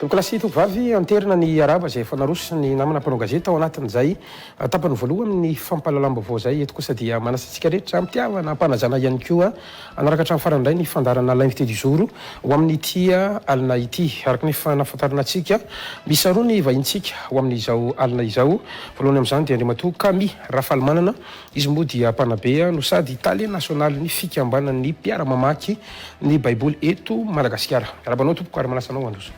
Tompokolahy sy Tompovavy, Anterina ny arahaba izay efa naroso ny namana mpanao gazety tao anatin'izay tapany voalohany ny fampahalalam-baovao izay. Eto kosa dia manasa antsika rehetra hampihavana, hampanajana ihany koa hanaraka hatramin'ny farany indray ny fandaharana L'invité du jour ho amin'ity alina ity. Araka ny efa nahafantarana antsika, miisa roa ny vahintsika ho amin'izao alina izao. Voalohany amin'izany dia Andriamatoa Kami Rafalimanana, Izy moa dia mpanabe no sady Tale nasionalin'ny fikambanan'ny mpiara-mamaky ny Baiboly eto Madagasikara. Miarahaba anao tompoko ary manasa anao handroso.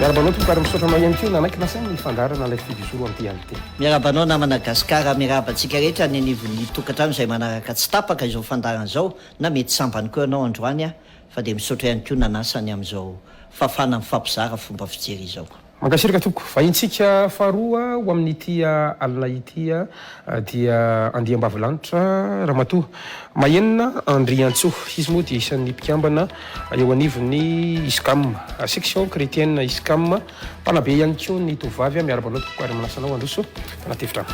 Miarahaba anao tompoko ary misaotra anao ihany koa nanaiky nasaina ny fandaharana ilay fijozoro amin'ny dialite. Miarahaba anao namana Gasikara, miarahaba antsika rehetra any anivon'ny tokantrano izay manaraka tsy tapaka izao fandaharana izao Na mety sambany koa ianao androany aho fa dia misaotra ihany koa nanasa ny amin'izao fafana mifampizara fomba fijery izao. Mankasiraka tompoko. Vahintsika faharoa ho amin'ity alina ity dia Andiambavilanitra Ramatoa Mahenina Andriantsoa. Izy moa dia isan'ny mpikambana eo anivon'ny Iscam, Section Chretienne Iscam, Mpanabe ihany koa ny tovovavy a! Miarahaba anao tompoko ary manasa anao handroso anaty efitrano.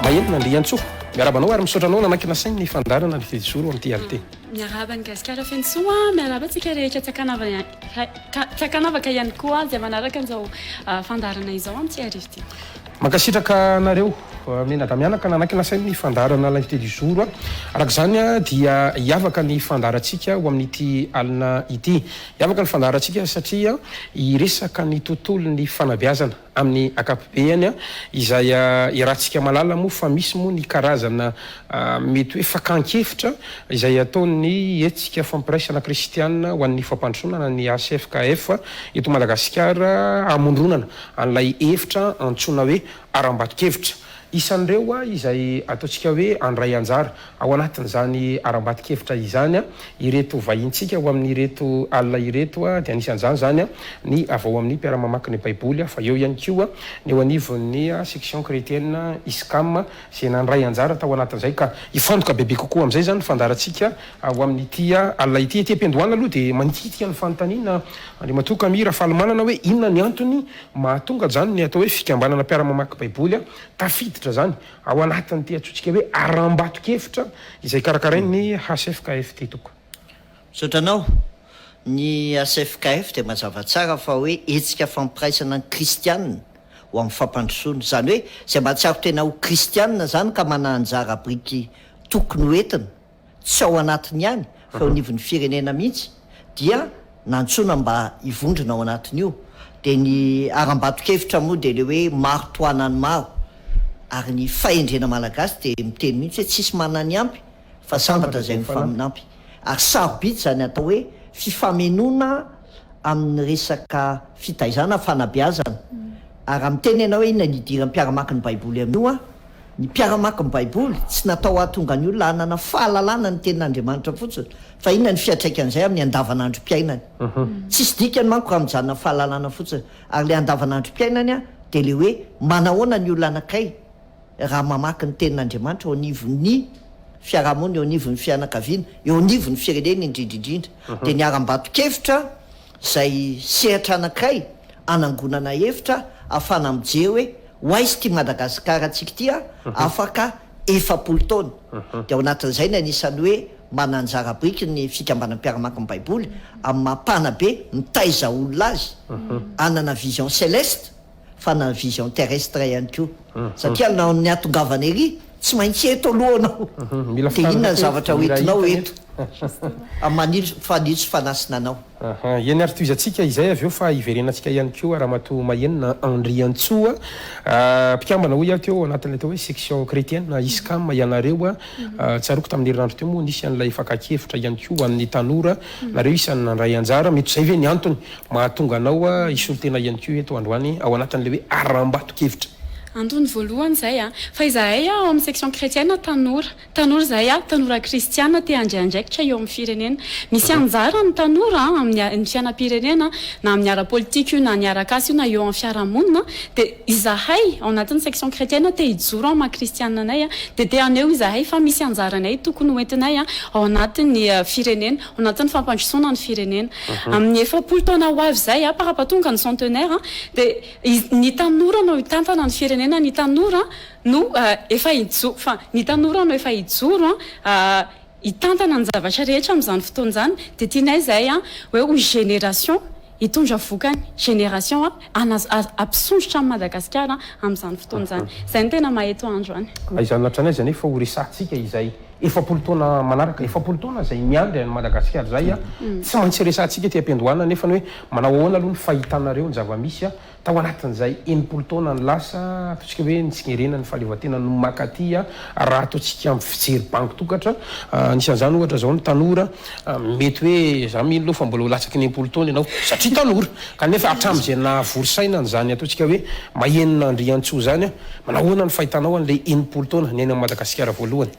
Mahelina Andriantsoa. Miarahaba anao ary misaotra anao nanankina saina ny fandaharana ny Tejozoro amin'ity arte. Miarahaba ny Gasikara feno soa, miarahaba antsika rehetra Tsakanavaka ihany koa dia manaraka an'izao fandaharana izao amin'ity arivo ity. Mankasitraka anareo Mena Damianaka nanaky nasainy ny fandaharana L'invité du jour a. Araka izany dia hiavaka ny fandaharantsika ho amin'ity alina ity. Hiavaka ny fandaharantsika satria hiresaka ny tontolon'ny fanabeazana amin'ny ankapobeany izay iarahantsika mahalala moa fa misy moa ny karazana mety hoe fakan-kevitra izay ataon'ny hetsika fampiraisana kristiana ho an'ny fampandrosoana na ny HFKF eto Madagasikara hamondronana an'ilay efitra antsoina hoe harambato-kevitra. Isan'ireo izay ataontsika hoe handray anjara ao anatin'izany harambato-kevitra izany ireto vahintsika ho amin'ireto alina ireto, dia anisan'izany izany ny avy ao amin'ny Mpiara-mamaky ny Baiboly fa eo ihany koa ny eo anivon'ny Section Chrétienne Iscam izay nandray anjara tao anatin'izay ka hifantoka bebe kokoa amin'izay izany ny fandaharantsika ao amin'ity alina ity. Ety am-piandohana aloha dia mandinika ny fanontaniana Andriamatoa Camille Rafalimanana hoe inona ny antony mahatonga izany ny atao hoe fikambanana mpiara-mamaky baiboly tafiditra izany ao anatin'ity antsointsika hoe harambato-kevitra izay karakarain'ny HFKFT Tompoko. Misaotra anao. Ny HFKF dia mazava tsara fa hoe hetsika fampiraisana ny kristiana ho amin'ny fampandrosoana. Izany hoe izay mahatsiaro tena ho kristiana izany ka manana anjara biriky tokony ho entina, tsy ao anatiny ihany fa eo anivon'ny firenena mihitsy, dia nantsoina mba hivondrona ao anatin'io. Dia ny harambato-kevitra moa dia ilay hoe maro tohanan'ny maro. Ary ny fahendrena malagasy dia miteny mihitsy hoe tsisy manana ny ampy fa sambatra izay mifaminampy ary sarobidy izany atao hoe fifamenoana amin'ny resaka fitaizana, fanabeazana, ary raha miteny ianao hoe inona ny idiran'ny mpiara-maky ny Baiboly amin'io an? ny mpiara-maky ny Baiboly tsy natao hahatonga ny olona hanana fahalalana ny Tenin'Andriamanitra fotsiny fa inona ny fiantraikan'izay amin'ny andavanandrom-piainany? tsisy dikany manko raha mijanona fahalalana fotsiny ary ilay andavanandrom-piainany dia ilay hoe manahoana ny olona anankiray raha mamaky ny Tenin'Andriamanitra eo anivon'ny fiarahamonina, eo anivon'ny fianakaviana, eo anivon'ny firenena indrindra indrindra, dia niharam-bato-kevitra izay sehatra anankiray hanangonana hevitra hahafahana mijery hoe ho aiza ity Madagasikarantsika ity afaka efapolo taona. Dia ao anatin'izay ny anisan'ny hoe manana anjara biriky ny Fikambanan'ny Mpiara-maky ny Baiboly amin'ny maha-mpanabe mitaiza olona azy hanana vision céleste, fa na ny vision terrestre ihany koa satria laon'ny hahatongavana ery tsy maintsy eto aloha anao dia inona ny zavatra ho entinao eto aman'ilo fanitso fanasina anao. Aha, eny ary tohizantsika izay avy eo fa hiverenantsika ihany koa Ramatoa Mahenina Andriantsoa mpikambana hoy aho teo anatin'ilay atao hoe section chretienne ISCAM ianareo tsaroako tamin'ny herinandro teo moa nisy an'ilay fakakevitra ihany koa ho an'ny tanora nareo isan'ny nandray anjara mety izay ve ny antony Mahatonga anao hisolo tena ihany koa eto androany ao anatin'ilay hoe harambato-kevitra. Antony voalohany izay a! Fa izahay ao amin'ny section chrétienne tanora, tanora izahay a, tanora kristiana te handray andraikitra eo amin'ny firenena. Misy anjara ny tanora amin'ny fiainam-pirenena na amin'ny ara-politika io na ny arak'asa io na eo amin'ny fiarahamonina dia izahay ao anatin'ny section chrétienne te hijoro amin'ny maha kristiana anay dia te haneho izahay fa misy anjaranay tokony hoentinay ao anatin'ny firenena ao anatin'ny fampandrosoana ny firenena. Amin'ny efapolo taona ho avy izay, par rapport tonga ny centenaire, dia ny tanora no hitantana ny firenena, ny tanora no efa hijoro, fa ny tanora no efa hijoro hitantana ny zavatra rehetra amin'izany fotoana izany, dia tianay izay hoe ho génération hitondra vokany génération hampisondrotra an'i Madagasikara amin'izany fotoana izany. Izay no tena maha eto andro an. Izany lahatran'ny aiza anefa ho resahantsika izay efapolo taona manaraka? Efapolo taona izay miandry an'i Madagasikara izay an! Tsy maintsy resahantsika ety am-piandohana anefa ny hoe manao ahoana aloha ny fahitanareo ny zava-misy Tao anatin'izay enimpolo taonany lasa, ataontsika hoe ny Tsingerena, ny Fahaleovantena no maka aty raha ataontsika amin'ny fijery bango tokatra. Anisan'izany ohatra izao ny tanora. Mety hoe za mino aloha fa mbola ho latsaky ny enimpolo taona ianao satria tanora. Kanefa hatramin'izay nahavory saina an'izany ataontsika hoe mahenon'Andriantsoa izany, manao ahoana ny fahitanao an'ilay enimpolo taona niainan'i Madagasikara voalohany?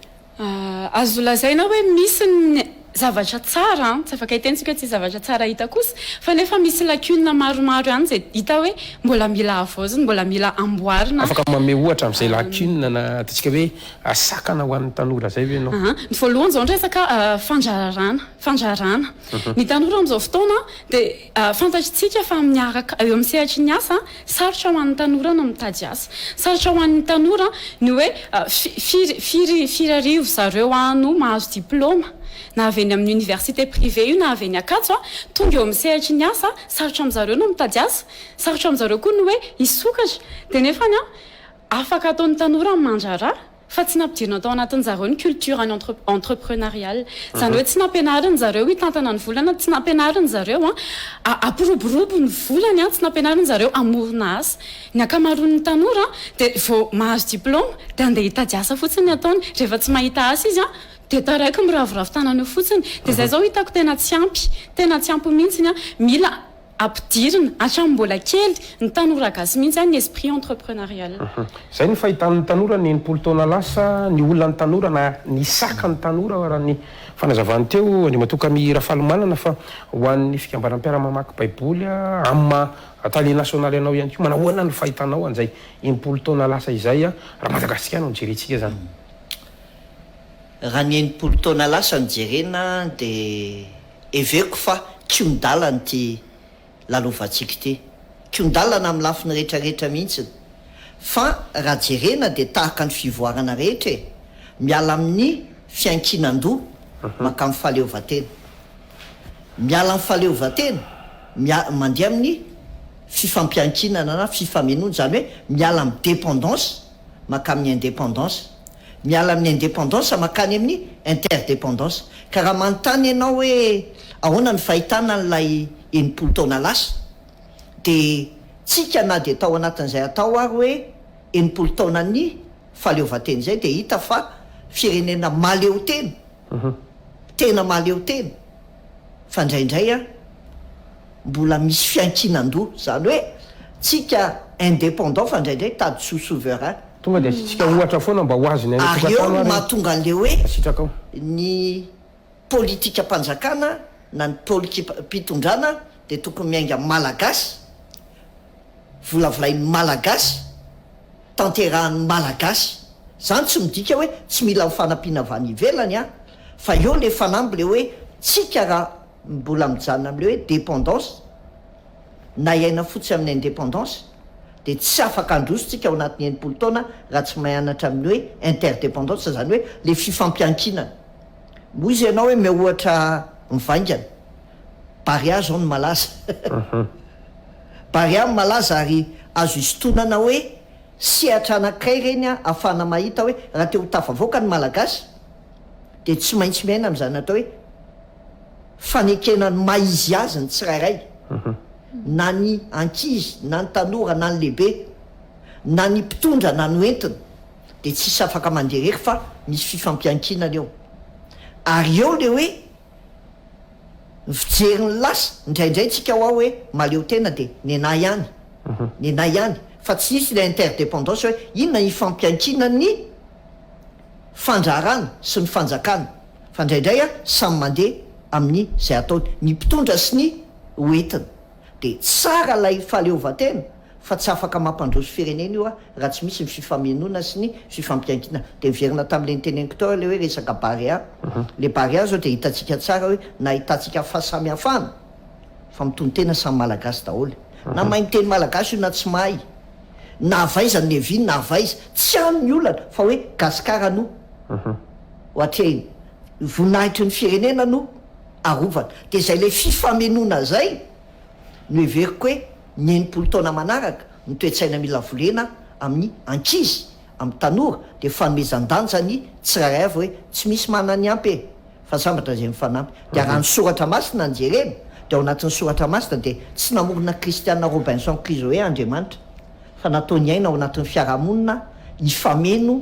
Azo lazaina hoe misy ny zavatra tsara, tsy afaka hitentsika hoe tsy zavatra tsara hita kosa, fa nefa misy lacunes maromaro ihany izay hita hoe mbola mila havaozina, mbola mila amboarina. Afaka manome ohatra amin'izay lacunes na ataontsika hoe sakana ho an'ny tanora izay ve ianao? Ny voalohany izao ny resaka fandraharahana, fandraharahana. Ny tanora amin'izao fotoana dia. Fantatr'tsika fa miaraka eo amin'ny sehatry ny asa, sarotra ho an'ny tanora ny mitady asa. Sarotra ho an'ny tanora ny hoe firy firy firy arivo zareo no mahazo diplaoma, na avy eny amin'ny université privée io na avy eny Ankatso. Tonga eo amin'ny sehatry ny asa, sarotra amin'zareo ny mitady asa, sarotra amin'zareo koa ny hoe hisokatra. Dia nefany afaka ataon'ny tanora ny mandraharaha. Fa tsy nampidirina tao anatin zareo ny culture any entre entrepreneurial. Zany hoe tsy nampianarin zareo hitantana ny volana, tsy nampianarin zareo an hampiroborobo ny volany an, tsy nampianarin zareo hamorona asa. Ny ankamaroan ny tanora an dia vao mahazo diploma dia andeha hitady asa fotsiny ny ataony. Rehefa tsy mahita asa izy an dia taraiky miraviravy tanana eo fotsiny. Dia zay zao hitako tena tsy ampy, tena tsy ampy mihintsiny an. Mila. ampidirina hatramin'ny mbola kely ny tanora gasy mihitsy zany ny esprit entrepreneurial. Izay ny fahitan'ny tanora ny enimpolo taona lasa, ny olana ny tanora na ny saka ny tanora raha ny fanazavany teo Andriamatoa Camille Rafalimanana fa ho an'ny fikambanan'ny mpiara-mamaky baiboly amin'ny maha tale nasionaly anao ihany koa manahoana ny fahitanao an'izay enimpolo taona lasa izay raha Madagasikara no jerentsika izany? Raha ny enimpolo taona lasa no jerena dia. Heveriko fa kion-dalana ity lalovantsika ity. Kion-dalana amin'ny lafiny rehetra rehetra mihitsy. Fa raha jerena dia tahaka ny fivoarana rehetra e! Miala amin'ny fiankinan-doha mankamin'ny fahaleovantena. Miala amin'ny fahaleovantena, mia, mandeha amin'ny fifampiankinana na fifamenoana, izany hoe miala amin'ny dépendance mankamy ny indépendance, miala amin'ny indépendance mankany amin'ny interdépendance. Ka raha manontany ianao hoe ahoana ny fahitana an'ilay enimpolo taona lasa dia tsika na dia tao anatin'izay atao ary hoe enimpolo taonan'ny fahaleovantena izay dia hita fa firenena mahaleotena, tena mahaleotena. fa indraindray an, mbola misy fiankinan-doha, izany hoe tsika indépendant fa indraindray tady soa souverain. Tonga dia asiantsika ohatra foana mba ho azon'ny any Ary eo an-tokantrano no ary mahatonga an'ilay hoe ny sitrakao. ny politikam-panjakana na ny polikiam-pitondrana dia tokony miainga Malagasy, Volavolain'ny Malagasy, tanterahin'ny Malagasy. Zany tsy midika hoe tsy mila ny fanampiana avy any ivelany an! Fa eo le fanamby le hoe tsika ra mbola mijanona amle hoe dependance na hiaina fotsy amin'ny independance de tsy afaka handroso tsika ao anatin'ny enimpolo taona raha tsy mianatra amin'ny hoe interdependance zany hoe le fifampiankinana. Moa izy ianao hoe miha ohatra mivaingana. Barea zao no malaza Barea no malaza ary azo isintonana hoe sehatra anankiray ireny ahafahana mahita hoe raha te ho tafavoaka ny Malagasy dia tsy maintsy miaina amin'izany atao hoe fanekena ny maha izy azy ny tsirairay na ny ankizy na ny tanora na ny lehibe na ny mpitondra na ny hoentina dia tsisy afaka mandeha irery fa misy fifampiankinana eo ary eo le hoe Mijery ny lasa indraindray tsika hoa hoe mahaleo tena dia nenà ihany, nenà ihany fa tsy nisy ilay interdependance hoe inona ifampiankinan'ny fandraharana sy ny fanjakana fa indraindray samy mandeha amin'ny izay ataony ny mpitondra sy ny ho entiny. Dia tsara ilay fahaleovantena fa tsy afaka mampandroso firenena io raha tsy misy ny fifamenoana sy ny fifampiankina. Dia miverina tamin'ilay noteneniko tao ilay hoe resaka Barea. Ilay Barea izao dia hitantsika tsara hoe nahitantsika fahasamihafana fa mitonon-tena samy Malagasy daholo. Na mahay miteny Malagasy io na tsy mahay, na avy aiza ny Levy na avy aiza, tsy any ny olana fa hoe Gasikara no ho atrehina. Voninahitry ny firenena no. arovana dia izay ilay fifamenoana zay no heveriko hoe ny enimpolo taona manaraka ny toe-tsaina mila volena amin'ny ankizy amin'ny tanora dia fanomezan-danja ny tsirairay avy hoe tsy misy manana ny ampy e fa sambatra izay mifanampy dia raha ny soratra masina no jerena dia ao anatin'ny soratra masina dia tsy namorona Christiana Robinson Crusoe Andriamanitra fa nataony aina ao anatin'ny fiarahamonina hifameno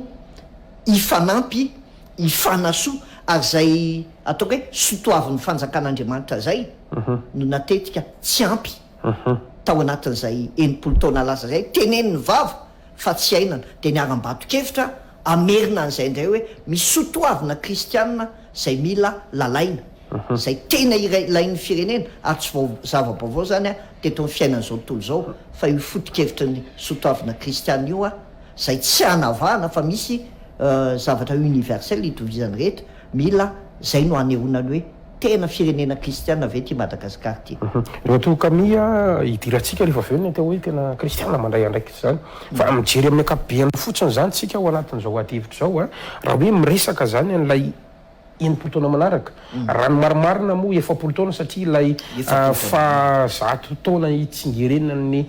hifanampy Ifanasoa, ary izay ataoko hoe sotoavin'ny fanjakan'Andriamanitra izay no natetika tsy ampy tao anatin'izay enimpolo taona lasa izay, tenenin'ny vava fa tsy iainana, dia niharam-bato-kevitra hamerina an'izay indray hoe misy sotoavina kristiana izay mila lalaina, izay tena ilain'ny firenena, ary tsy zava-baovao izany teto amin'ny fiainan'izao tontolo izao fa io foto-kevitry ny sotoavina kristiana io. Izay tsy hanavahana fa misy zavatra universel hitovizany rehetra, mila izay no hanehoana ny hoe tena firenena kristiana ve ity Madagascar ity. Raha toa ka miha hidirantsika rehefa avy eo ny atao hoe tena kristiana mandray andraikitra izany. Fa mijery amin'ny ankapobeny fotsiny izany isika ao anatin'izao adihevitra izao, raha hoe miresaka izany an'ilay. enimpolo taona manaraka, raha ny marimarina moa efapolo taona satria ilay faha zato taona hitsingerenan'ny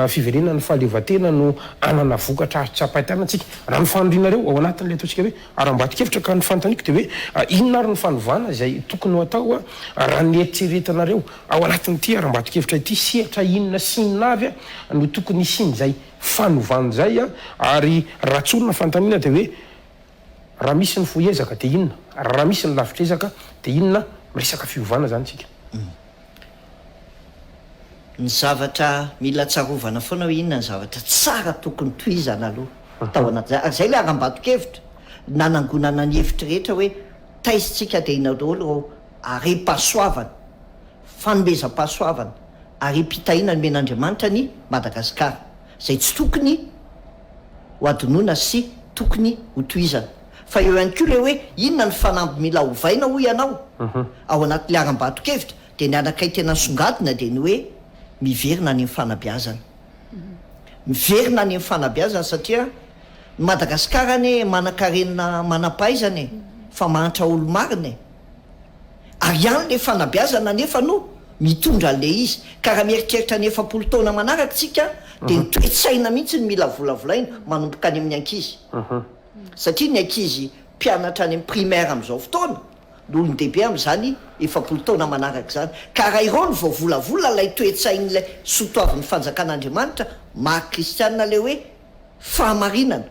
fiverenan'ny fahaleovantena no hanana vokatra azo tsapain-tanantsika. Raha ny fanirianareo ao anatin'ilay ataontsika hoe harambato-kevitra ka ny fanontaniako dia hoe inona ary ny fanovana izay tokony ho atao raha ny eritreretanareo ao anatin'ity harambato-kevitra ity? Sehatra inona sy inona avy no tokony hisian'izay fanovana izay ary raha tsorina ny fanontaniana dia hoe Raha misy ny fohy ezaka dia inona? Raha misy ny lavitr'ezaka dia inona? Miresaka fiovana izany isika. Ny zavatra mila tsarovana foana hoe inona ny zavatra tsara tokony tohizana aloha tao anatin'izay. Ary izay ilay harambato-kevitra nanangonana ny hevitry rehetra hoe taizintsika dia inona daholo ireo harem-pahasoavana, fanomezam-pahasoavana, harem-pitahiana nomen'Andriamanitra an'i Madagasikara. izay tsy tokony ho adinoina sy tokony ho tohizana. Fa eo ihany koa ilay hoe inona ny fanamby mila ovaina hoy ianao? Ao anatin'ilay harambato-kevitra dia ny anankiray tena nisongadina dia ny hoe miverina any amin'ny fanabeazana. Miverina any amin'ny fanabeazana satria ny Madagasikara anie manankarena manam-pahaizana e! Fa mahantra olo-marina e! Ary ihany le fanabeazana anefa no mitondra an'le izy. Ka raha mieritreritra ny efapolo taona manaraka isika dia ny toe-tsaina mihitsy no mila volavolaina manomboka any amin'ny ankizy. Satria ny ankizy mpianatra any amin'ny primaire amin'izao fotoana no olon-dehibe amin'izany efapolo taona manaraka izany. Ka raha ireo no vao volavola ilay toe-tsain'ilay sotoavin'ny fanjakan'Andriamanitra maha kristiana ilay hoe fahamarinana.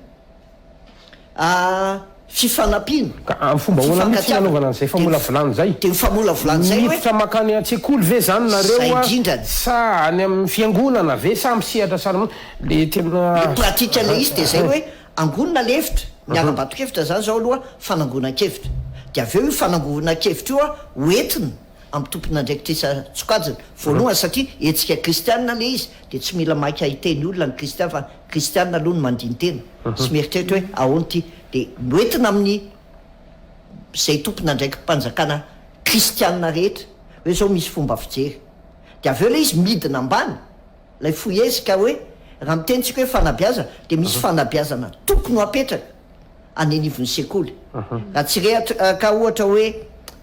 fifanampiana, Ka amin'ny fomba ahoana mihitsy ny hanaovana an'izay famolavolana izay? Dia ny famolavolana izay hoe. Miditra mankany an-tsekoly ve izany nareo? Izay indrindra ny. Sa any amin'ny fiangonana ve? Sa amin'ny sehatra saha manokana? Ilay tena. Ilay pratika ilay izy dia izay hoe angonina ilay hevitra, niharam-bato-kevitra izany izao aloha fanangonan-kevitra. Dia avy eo io fanangonan-kevitra io ho entina amin'ny tompon'andraikitra isan-tsokajiny. Voalohany satria hetsika kristianina ilay izy dia tsy mila maika hiteny olona ny kristiana fa. Kristiana aloha no mandini-tena sy mieritreritra hoe ahoana ity, dia noentina amin'ny izay tompon'andraiki-panjakana kristiana rehetra hoe izao misy fomba fijery, dia avy eo ilay izy midina ambany, ilay fohezika hoe raha miteny isika hoe fanabeazana dia misy fanabeazana tokony ho apetraka any anivon'ny sekoly, raha tsy rehaka ohatra hoe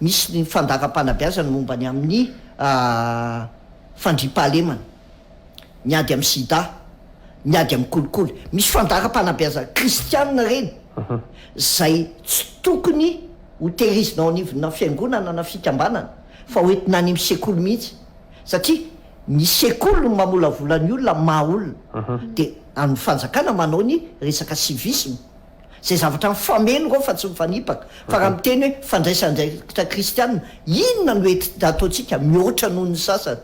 misy ny fandaharam-panabeazana momba ny amin'ny fandriampahalemana. miady amin'ny sida, miady amin'ny kolikoly. Misy fandaharam-panabeazana kristianina ireny izay tsy tokony ho tehirizina ao anivona fiangonana na fikambanana fa ho entina any amin'ny sekoly mihitsy satria ny sekoly no mamolavola ny olona maha olona dia an'ny fanjakana manao ny resaka civisme. Izay zavatra mifameno ireo fa tsy mifanipaka. Fa raha miteny hoe fandraisandraikitra kristiana, inona no ety ataontsika mihoatra noho ny sasany?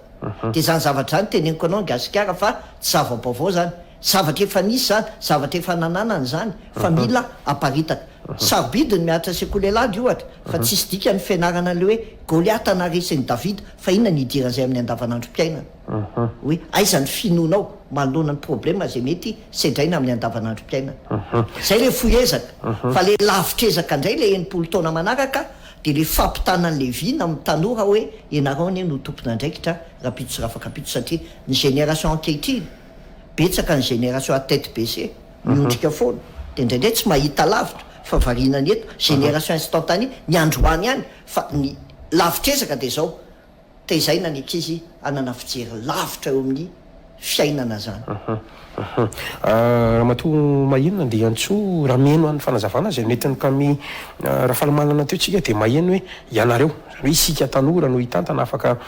Dia izany zavatra izany teneniko anao ny Gasikara fa tsy zava-baovao izany. Zavatra efa nisy izany, zavatra efa nananana izany fa mila aparitaka. Sarobidy ny mihatra sekoly Elhadj ohatra fa tsisy dikany ny fianarana an'ilay hoe Goliata naharesy an'i Davida fa inona no idiran'izay amin'ny andavanandrom-piainana? hoe aiza ny finoanao manoloana ny problema izay mety sedraina amin'ny andavanandrom-piainana. Izay ilay fohy ezaka. Fa ilay lavitr'ezaka indray ilay enimpolo taona manaraka dia ilay fampitana an'i Levi na amin'ny tanora hoe ianareo anie no tompon'andraikitra rahampitso sy rafakapitso satria ny génération ankehitriny betsaka ny génération à tête baissée miondrika foana dia indraindray tsy mahita lavitra fa variana ny eto génération instantanée ny androany ihany fa ny lavitr'ezaka dia izao tezaina ny ankizy hanana fijery lavitra eo amin'ny fiainana zany. Ramatoa Maheno Andriantsoa raha miheno an'ny fanazavana izay nentin'i Kami Rafalimanana teo tsika dia maheno hoe ianareo, izany hoe isika tanora no hitantana afaka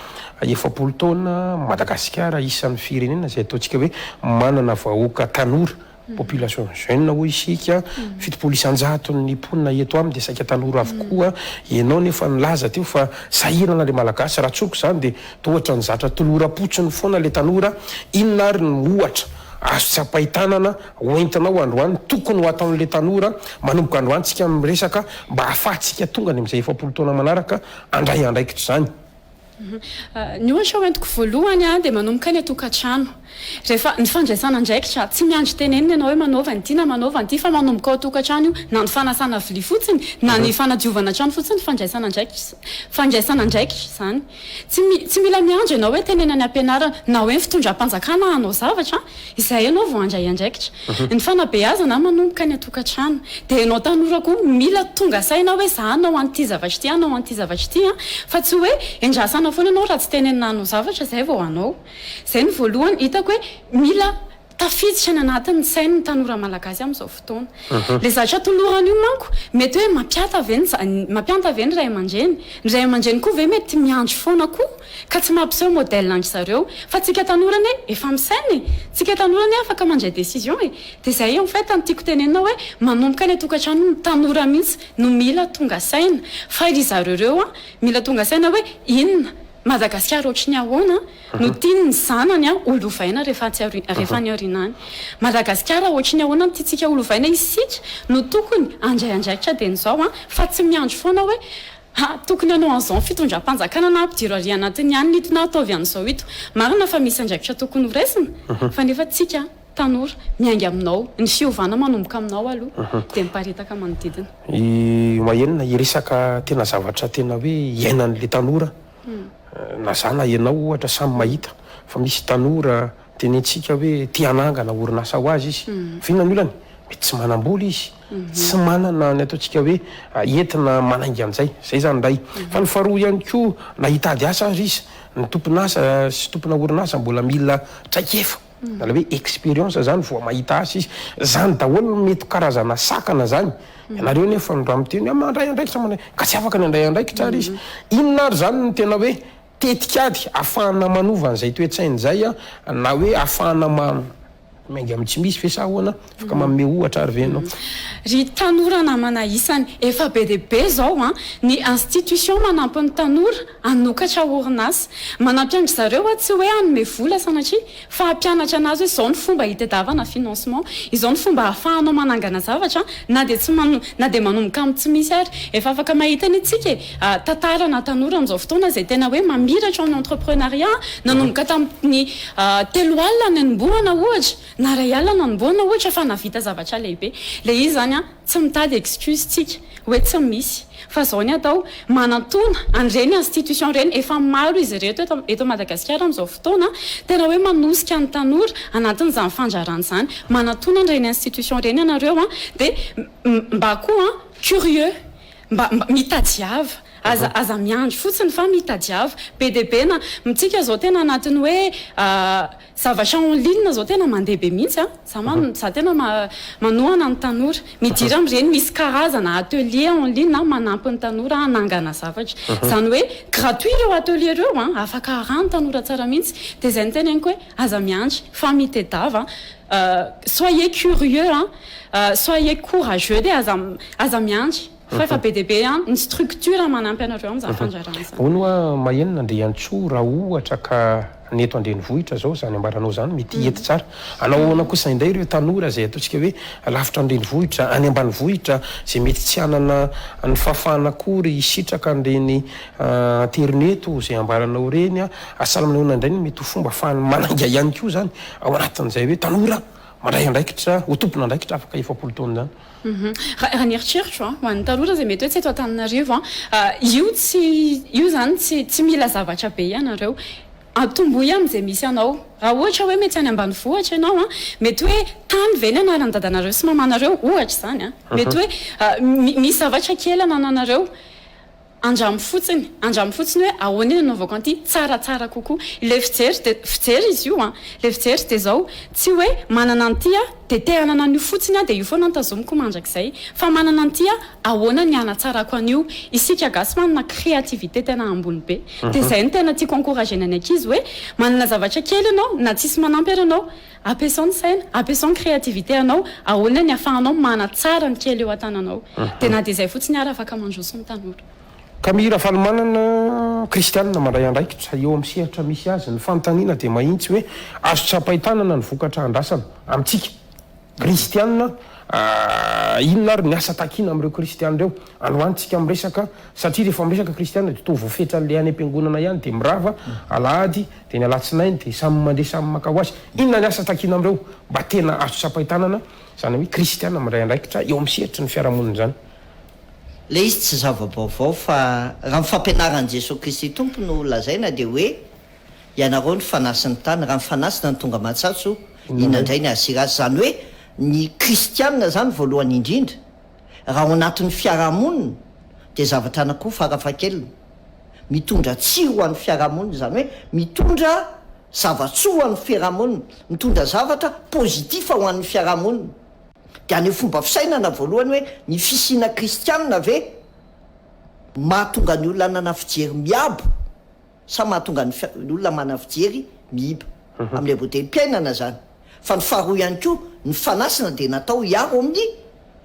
efapolo taona Madagasikara isan'ny firenena izay ataontsika hoe manana vahoaka tanora Population jeune hoy isika, fitopolo isan-jatony ny mponina eto aminy dia saika tanora avokoa, ianao anie efa nilaza teo fa sahirana ilay Malagasy, raha tsoriko izany dia toa ohatra ny zatra toloram-potsiny foana ilay tanora, inona ary no ohatra azo tsapain-tanana hoentinao androany tokony ho ataon'ilay tanora manomboka androany tsika miresaka mba ahafahantsika tonga any amin'izay efapolo taona manaraka handray andraikitra izany? Ny ohatra hoentiko voalohany dia manomboka any an-tokantrano. Rehefa ny fandraisana andraikitra, tsy miandry tenenina ianao hoe manaova an'ity na manaova an'ity fa manomboka ao an-tokantrano io. Na ny fanasana vilia fotsiny na ny fanadiovana trano fotsiny fandraisana andraikitra fandraisana andraikitra izany. Tsy tsy mila miandry ianao hoe tenenan'ny ampianarana na hoe ny fitondram-panjakana hanao zavatra. Izay ianao vao handray andraikitra. Ny fanabeazana an manomboka any an-tokantrano. Dia ianao tanora koa mila tonga saina hoe za hanao an'ity zavatra ity, hanao an'ity zavatra ity an. Fa tsy hoe endrasana foana ianao raha tsy tenenina hanao zavatra izay vao hanao. Izay no voalohany hitako hoe mila tafiditra any anatin'ny sainy ny tanora malagasy amin'izao fotoana. Ilay zavatra tolorana io manko mety hoe mampiata ve ny za mampianta ve ny ray aman-dreny. Ny ray aman-dreny koa ve mety miandry foana koa. Ka tsy mampiseho modèle an-dry zareo. Fa tsika tanora anie efa misaina e! Tsika tanora anie afaka mandray décision e! Dia zay en fait no tiako tenenina hoe manomboka any an-tokantrano ny tanora mihitsy no mila tonga saina. Fa ry zareo ireo an, mila tonga saina hoe inona? Madagasikara ohatry ny ahoana no tiany ny zanany an ho lovaina rehefa atsy aoriana, rehefa any aoriana any? Madagasikara ohatry ny ahoana no tiantsika ho lovaina? Isika no tokony handray andraikitra dieny izao an, fa tsy miandry foana hoe Ha, tokony hanao an'izao ny fitondram-panjakana na ampidiro ary anatiny ihany ny ito na ataovy an'izao ito. Marina fa misy andraikitra tokony ho raisina, fa nefa tsika tanora, miainga aminao, ny fiovana manomboka aminao aloha, dia miparitaka manodidina. I Wael hiresaka tena zavatra tena hoe iainan'ilay tanora, na za na ianao ohatra samy mahita fa misy tanora. Tenentsika hoe te hanangana orinasa ho azy izy. Fa inona ny olany? Mety tsy manam-bola izy. Tsy manana ny ataontsika hoe entina manainga an'izay. Izay izany indray. Fa ny faharoa ihany koa, na hitady asa aza izy, ny tompon'asa sy tompona orinasa mbola mila traikefa. Ilay hoe expérience izany vao mahita asa izy. Izany daholo no mety ho karazana sakana izany. Ianareo anefa no raha miteny hoe mandray andraikitra mandray, ka tsy afaka ny handray andraikitra ary izy. Inona ary izany no tena hoe Tetikady afahana manova an'izay toe-tsaina izay na hoe afahana ma miainga amin'ny tsy misy ve sa ahoana? Afaka manome ohatra ary ve ianao? Ry tanora namana isany, efa be dia be izao ny institution manampy ny tanora hanokatra orinasa. Manampy an-dry zareo tsy hoe hanome vola sanatria, Fa hampianatra anareo hoe izao no fomba hitadiavana financement, izao no fomba ahafahanao manangana zavatra na dia tsy man na dia manomboka amin'ny tsy misy ary. Efa afaka mahita ny tsika e, tantarana tanora amin'izao fotoana izay tena hoe mamiratra ao amin'ny entreprenariat, nanomboka tamin'ny telo alina nanombohana ohatra, na iray alina nanombohana ohatra fa nahavita zavatra lehibe. Ilay izy izany an. Tsy mitady excuse tsika hoe tsy misy fa zao ny atao manantona an'ireny institution ireny efa maro izy ireto eto eto Madagasikara amin'izao fotoana tena hoe manosika ny tanora anatin'izany fandrarana izany manantona an'ireny institution ireny ianareo an de mba koa curieux mba mba mitadiava aza aza miandry fotsiny fa mitadiava be dia be na mitsika zao tena anatin'ny hoe Zavatra en ligne zao tena mandeha be mihitsy a! Za ma, za tena ma, manohana ny tanora. Midira amin'ireny misy karazana atelier en ligne manampy ny tanora hanangana zavatra. Izany hoe gratuit ireo atelier ireo an! Afaka haraha ny tanora tsara mihitsy. Dia izay no teneniko hoe aza miandry fa mitedava an! Soyez curieux an! Soyez courageux dia aza, aza miandry. Fa efa be dia be an, ny structure manampy anareo amin'izany fandrarana izany. Hono hoa maheno n'Andriantsoa raha ohatra ka ny eto an-drenivohitra izao izany ambaranao izany mety hiety tsara. Hanao ahoana kosa indray ireo tanora izay ataontsika hoe lavitra ny renivohitra, any ambanivohitra, izay mety tsy hanana ny fahafahana akory hisitraka an'ireny aterineto izay ambaranao ireny. Asa manahoana indray no mety ho fomba ahafahany manainga ihany koa izany ao anatin'izay hoe tanora mandray andraikitra ho tompon'andraikitra afaka efapolo taona izany? Raha ny eritreritro an, ho an'ny tanora izay mety hoe tsy eto Antananarivo an, io tsy, io izany tsy tsy mila zavatra be ianareo. Atombohy amin'izay misy anao. Raha ohatra hoe mety any ambanivohitra ianao an, mety hoe tany ve ny anaran'ny dadanareo sy mamanareo? Ohatra izany an. Mety hoe misy zavatra kely anananareo. Andramo fotsiny, andramo fotsiny hoe ahoana ny anaovako an'ity tsaratsara kokoa. Ilay fijery dia, fijery izy io an, ilay fijery dia izao, tsy hoe manana an'ity aho dia te hanana an'io fotsiny aho dia io foana no tazomiko mandrakizay, fa manana an'ity aho, ahoana ny hanatsarako an'io. Isika gasy manana créativité tena ambony be, dia izay no tena tiako encourager-na ny ankizy hoe manana zavatra kely ianao na tsisy manampy ary ianao, Ampiasao ny saina, ampiasao ny créativité anao, ahoana ny afahanao manatsara ny kely eo an-tananao. Dia na dia izay fotsiny ary afaka mandroso ny tanora. Camille Rafalimanana, Kristianina mandray andraikitra eo amin'ny sehatra misy azy, ny fanontaniana dia mahintsy hoe azo tsapain-tanana ny vokatra andrasana amintsika Kristianina? Inona ary ny asa takiana amin'ireo Kristianina ireo androany tsika miresaka satria rehefa miresaka Kristianina dia toa voafetran'ilay any am-piangonana ihany dia mirava alahady Dia ny alatsinainy dia samy mandeha samy maka ho azy. Inona ny asa takiana amin'ireo mba tena azo tsapain-tanana, izany hoe kristiana miray andraikitra eo amin'ny sehatry ny fiarahamonina izany? Ilay izy tsy zava-baovao fa raha ny fampianaran'i Jesoa Kristy Tompo no lazaina dia hoe, Ianareo no fanasy ny tany, raha ny fanasy na ny tonga aman-tsatso, inona indray ny hahasiry azy? Izany hoe ny kristiana izany voalohany indrindra, raha ao anatin'ny fiarahamonina dia zavatra anakiroa farafahakeliny. Mitondra tsiry ho an'ny fiarahamonina, izany hoe mitondra zava-tsoa ho an'ny fiarahamonina, mitondra zavatra positif ho an'ny fiarahamonina. Dia haneho fomba fisainana voalohany hoe ny fisiana kristianina ve mahatonga ny olona hanana fijery miabo sa mahatonga ny olona manana fijery miiba. Amin'ny anbodem-piainana izany. Fa ny faharoa ihany koa, ny fanasana dia natao hiaro amin'ny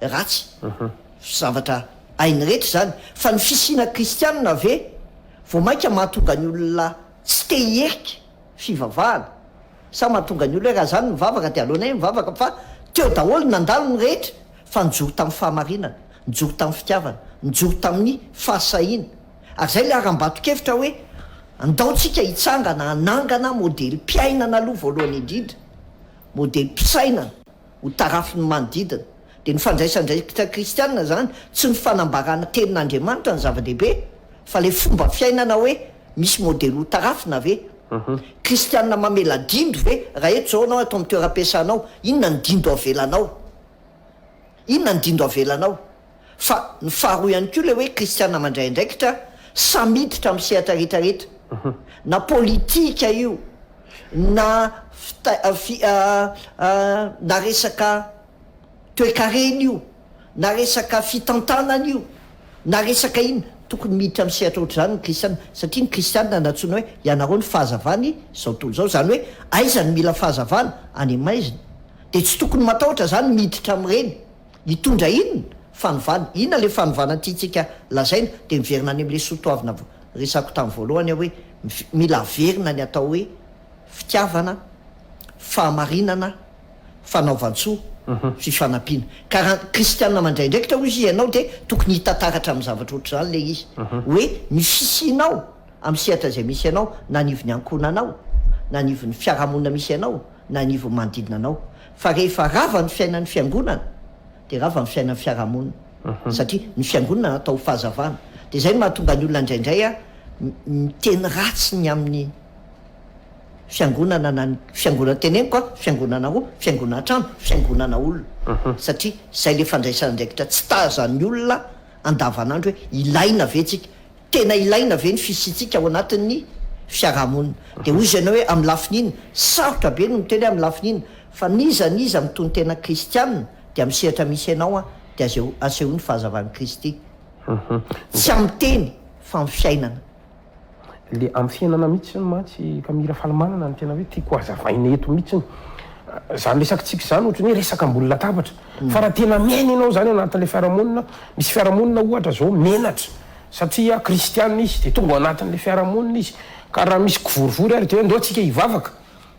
ratsy. Zavatra hainy rehetra izany. Fa ny fisiana kristianina ve vao mainka mahatonga ny olona tsy te hierika fivavahana? Sa mahatonga ny olona hoe raha izany mivavaka dia aleonay mivavaka fa teo daholo nandalo ny rehetra fa nijoro tamin'ny fahamarinana, nijoro tamin'ny fitiavana, nijoro tamin'ny fahasahiana. Ary izay ilay harambato-kevitra hoe andaontsika hitsangana hanangana modelim-piainana aloha voalohany indrindra, modelim-pisainana ho tarafin'ny manodidina. Dia ny fandraisandraikitra kristianina izany, tsy ny fanambarana tenin'Andriamanitra no zava-dehibe, fa ilay fomba fiainana hoe misy modely hotarafina ve? Kristianina mamela dindo ve? Raha eto izao ianao ato amin'ny toeram-piasanao, inona ny dindo avelanao? Inona ny dindo avelanao? Fa ny faharoa ihany koa ilay hoe kristiana mandray andraikitra sa miditra amin'ny sehatra rehetra rehetra, na politika io, na fi na resaka toekarena io, na resaka fitantanana io, na resaka inona. Tokony miditra amin'ny sehatra ohatr'izany ny kristiana, satria ny kristiana nantsoina hoe ianareo ny fahazavany izao tontolo izao, izany hoe aiza no mila fahazavana, any am-maizina, dia tsy tokony matahotra izany miditra amin'ireny. Mitondra inona? Fanovana. Inona ilay fanovana tiantsika lazaina? Dia miverina any amin'ilay soatoavina resako tamin'ny voalohany aho hoe mila averina ny atao hoe fitiavana, fahamarinana, fanaovan-tsoa, fifanampiana. Ka raha ny kristiana mandray andraikitra hoy ianao dia tokony hita taratra amin'ny zavatra ohatr'izany ilay izy hoe ny fisianao amin'ny sehatra izay misy anao na anivon'ny ankohonanao na anivon'ny fiarahamonina misy anao, na ny ivon'ny manodidina anao fa rehefa rava ny fiainan'ny fiangonana dia rava ny fiainan'ny fiarahamonina satria ny fiangonana natao ho fahazavana dia izay no mahatonga ny olona indraindray a miteny ratsy ny amin'ny fiangonana na ny fiangonana teneniko a fiangonana roa fiangonana trano fiangonana olona satria izay le fandraisana andraikitra tsy tazan'ny olona andavanandro hoe ilaina ve tsika Tena ilaina ve ny fisiantsika ao anatin'ny fiarahamonina? Dia hoy ianao hoe, amin'ny lafiny inona? Sarotra be ny miteny hoe amin'ny lafiny inona, fa n'iza n'iza mitonon-tena kristiana dia amin'ny sehatra misy anao an, dia azeo asehoany fahazavan'i Kristy. Tsy amin'ny teny fa amin'ny fiainana. Ilay amin'ny fiainana mihitsy hono mantsy ka mila fanomanana no tena hoe tiako hohazavaina eto mihitsy. Izany resakantsika izany ohatran'ny hoe resaka ambony latabatra, fa raha tena miaina ianao izany ao anatin'ilay fiarahamonina, misy fiarahamonina ohatra izao menatra, Satria kristiana izy dia tonga ao anatin'ilay fiarahamonina izy, ka raha misy kivorivory ary dia hoe ndao tsika hivavaka,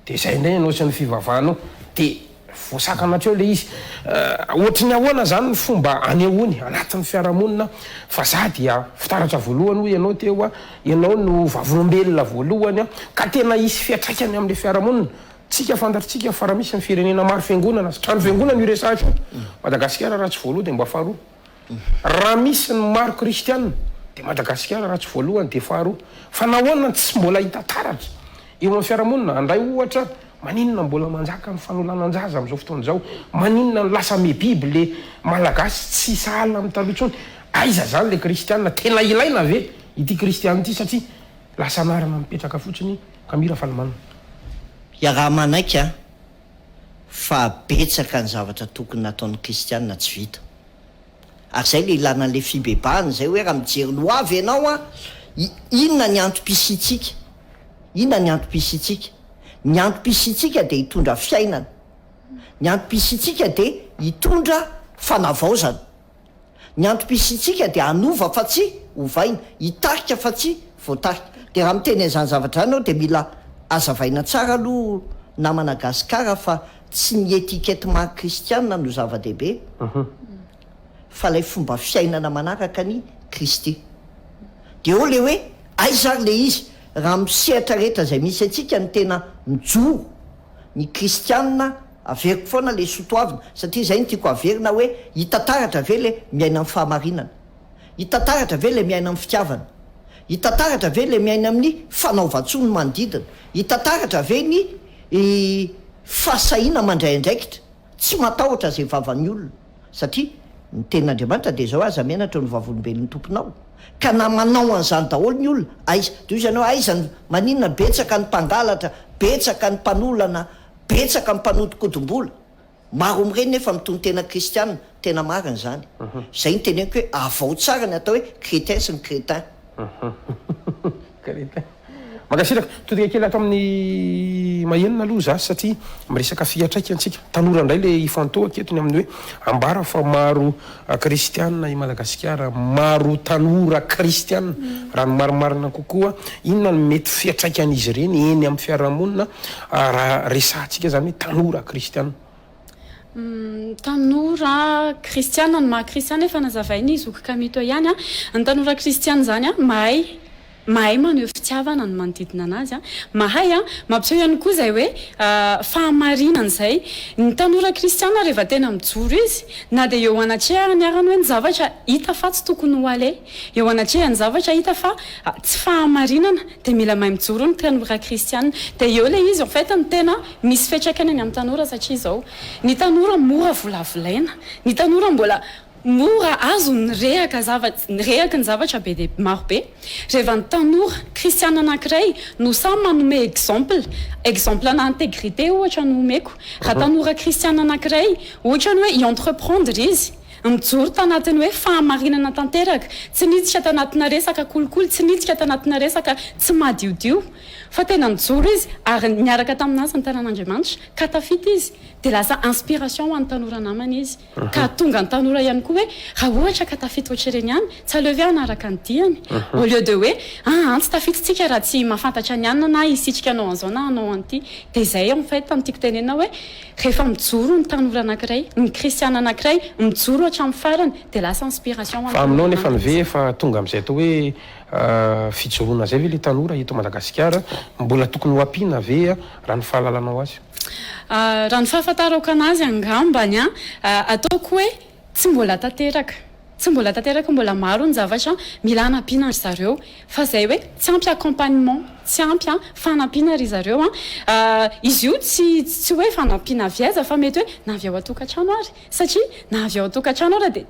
dia izay indray ianao sy ny fivavahanao, dia voasakana hatreo ilay izy. Ohatry ny ahoana izany ny fomba anehoany anatin'ny fiarahamonina fa za dia fitaratra voalohany hoy ianao teo, ianao no vavolombelona voalohany, ka tena hisy fiantraikany amin'ilay fiarahamonina. Tsika fantatritsika fa raha misy ny firenena maro fiangonana sy trano fiangonana io resahatra io, Madagasikara raha tsy voaloha dia mba faharoa. Raha misy ny maro kristiana dia Madagasikara raha tsy voalohany dia faharoa. Fa nahoana no tsy mbola hita taratra eo amin'ny fiarahamonina? Handray ohatra, maninona no mbola manjaka ny fanolanan-jaza amin'izao fotoana izao? Maninona no lasa miha-biby ilay Malagasy tsy sahala amin'ny taloha intsony? Aiza izany ilay kristiana? Tena ilaina ve ity kristiana ity satria lasa anarana mipetraka fotsiny ka mira fa limanina. Iaraha-manaiky an! fa betsaka ny zavatra tokony nataon'ny kristiana tsy vita. Ary izay ilay ilana an'ilay fibebahana izay hoe raha mijery ny hoavy ianao an, inona ny antom-pisiantsika? Inona ny antom-pisiantsika? Ny antom-pisiantsika dia hitondra fiainana. Ny antom-pisiantsika dia hitondra fanavaozana. Ny antom-pisiantsika dia hanova fa tsy hovaina, hitarika fa tsy voatarika. Dia raha miteny an'izany zavatra izany ianao dia mila azavaina tsara aloha namana Gasikara fa tsy ny etiquette maha kristiana no zava-dehibe fa ilay fomba fiainana manaraka an'i Kristy. Dia eo ilay hoe aiza ary ilay izy raha amin'ny sehatra rehetra izay misy antsika ny tena mijoro ny kristiana Averiko foana ilay sotoavina satria izay no tiako haverina hoe hita taratra ve ilay miaina amin'ny fahamarinana? Hita taratra ve ilay miaina amin'ny fitiavana? Hita taratra ve ilay miaina amin'ny fanaovan-tsoa ny manodidina? Hita taratra ve ny fahasahiana mandray andraikitra, tsy matahotra izay vavan'ny olona? Satria ny tenin'Andriamanitra dia izao hoe aza menatra ny vavolombelon'ny tomponao. Ka na manao an'izany daholo ny olona, aiza? Dia hoy izy anao, aiza ny, maninona betsaka ny mpangalatra, betsaka ny mpanolana, Betsaka ny mpanodikodim-bola, maro amin'ireny nefa mitonon-tena kristiana, tena marina izany. Izay no teneniko hoe avao tsara ny atao hoe chrétien sy ny crétin. Crétin. Mankasitraka. Todika kely ato amin'ny mahenina aloha za satria miresaka fihatraika antsika. Tanora indray le ifantohako eto ny amin'ny hoe ambara fa maro A Kristiana i Madagasikara, maro tanora kristiana. Raha ny marimarina kokoa, inona no mety fiatraikan'izy ireny eny amin'ny fiarahamonina raha resahantsika izany hoe tanora kristiana? Tanora kristiana, ny maha kristiana efa nazavain'i zoky Kamito ihany. Ny tanora kristiana izany mahay. Mahay maneho fitiavana ny manodidina anazy. Mahay mampiseho ihany koa izay hoe fahamarinana izay. Ny tanora kristiana rehefa tena mijoro izy, na dia eo anatrehany ary ny hoe ny zavatra hita fa tsy tokony ho aleha, eo anatrehany zavatra hita fa tsy fahamarinana, dia mila mahay mijoro ny tanora kristiana. Dia eo ilay izy en fait no tena misy fiantraikany any amin'ny tanora satria izao, ny tanora mora volavolaina, ny tanora mbola. Mora azo ny rehaka zavatra, ny rehaky ny zavatra be dia maro be. Reva ny tanora kristiana anankiray no sahy manome exemple, exemple ana integrite ohatra no omeko, raha tanora kristiana anankiray ohatrany hoe hi entreprendre izy, mijoro tanatin'ny hoe fahamarinana tanteraka, tsy niditra tanatina resaka kolikoly, tsy niditra tanatina resaka tsy madiodio, fa tena nijoro izy ary niaraka tamin'azy ny tanan'Andriamanitra ka tafita izy, dia lasa inspiration ho an'ny tanora namany izy. Ka hahatonga ny tanora ihany koa hoe raha ohatra ka tafita ohatr'ireny ihany, tsy aleo ve hanaraka ny diany? Au lieu de hoe, aa tsy tafita isika raha tsy mahafantatra ny anona na hisitrika hanao an'izao na hanao an'ity. Dia izay en fait no tiako tenenina hoe rehefa mijoro ny tanora anankiray, ny kristiana anankiray mijoro hatramin'ny farany dia lasa inspiration ho an'ny Fa aminao nefany ve efa tonga amin'izay atao hoe fijoroana izay ve ilay tanora eto Madagasikara? Mbola tokony ho ampiana ve raha ny fahalalanao azy? Raha ny fahafantarako anazy angambany an, ataoko hoe tsy mbola tanteraka, tsy mbola tanteraka, mbola maro ny zavatra mila hanampiana ry zareo fa izay hoe tsy ampy accompagnement, tsy ampy an fanampiana ry zareo an, izy io tsy tsy hoe fanampiana avy aiza fa mety hoe na avy ao an-tokantrano ary satria na avy ao an-tokantrano ary dia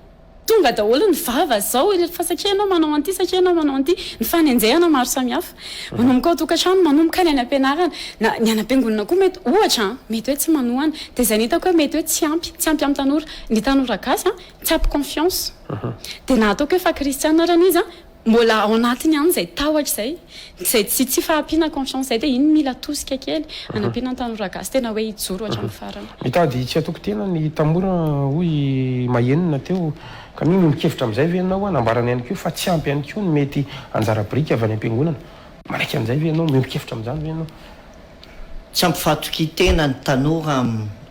Tonga daholo ny vava zao ireto fa satria ianao manao an'ity satria ianao manao an'ity. Ny fanenjehana maro samihafa. Manomboka ao tokantrano, manomboka any any ampianarana. Na ny any ampiangonana koa mety ohatra an, mety hoe tsy manohana. Dia izay no hitako hoe mety hoe tsy ampy, tsy ampy amin'ny tanora. Ny tanora gasy an, tsy ampy confiance. Dia na ataoko hoe fa kristiana ary an izy an, Mbola ao anatiny ihany izay tahotra izay, izay tsy tsy fahampiana confiance izay dia iny mila tosika kely hanampiana ny tanora gasy tena hoe hijoro hatramin'ny farany. Mitady tsy hatoky tena ny tamora hoy i Mahenina teo ka mino ny kevitra amin'izay ve ianao? Nambarany ihany koa fa tsy ampy ihany koa ny mety anjara biriky avy any am-piangonana. Manaiky an'izay ve ianao? Miombon-kevitra amin'izany ve ianao? Tsy ampy fahatokian-tena ny tanora,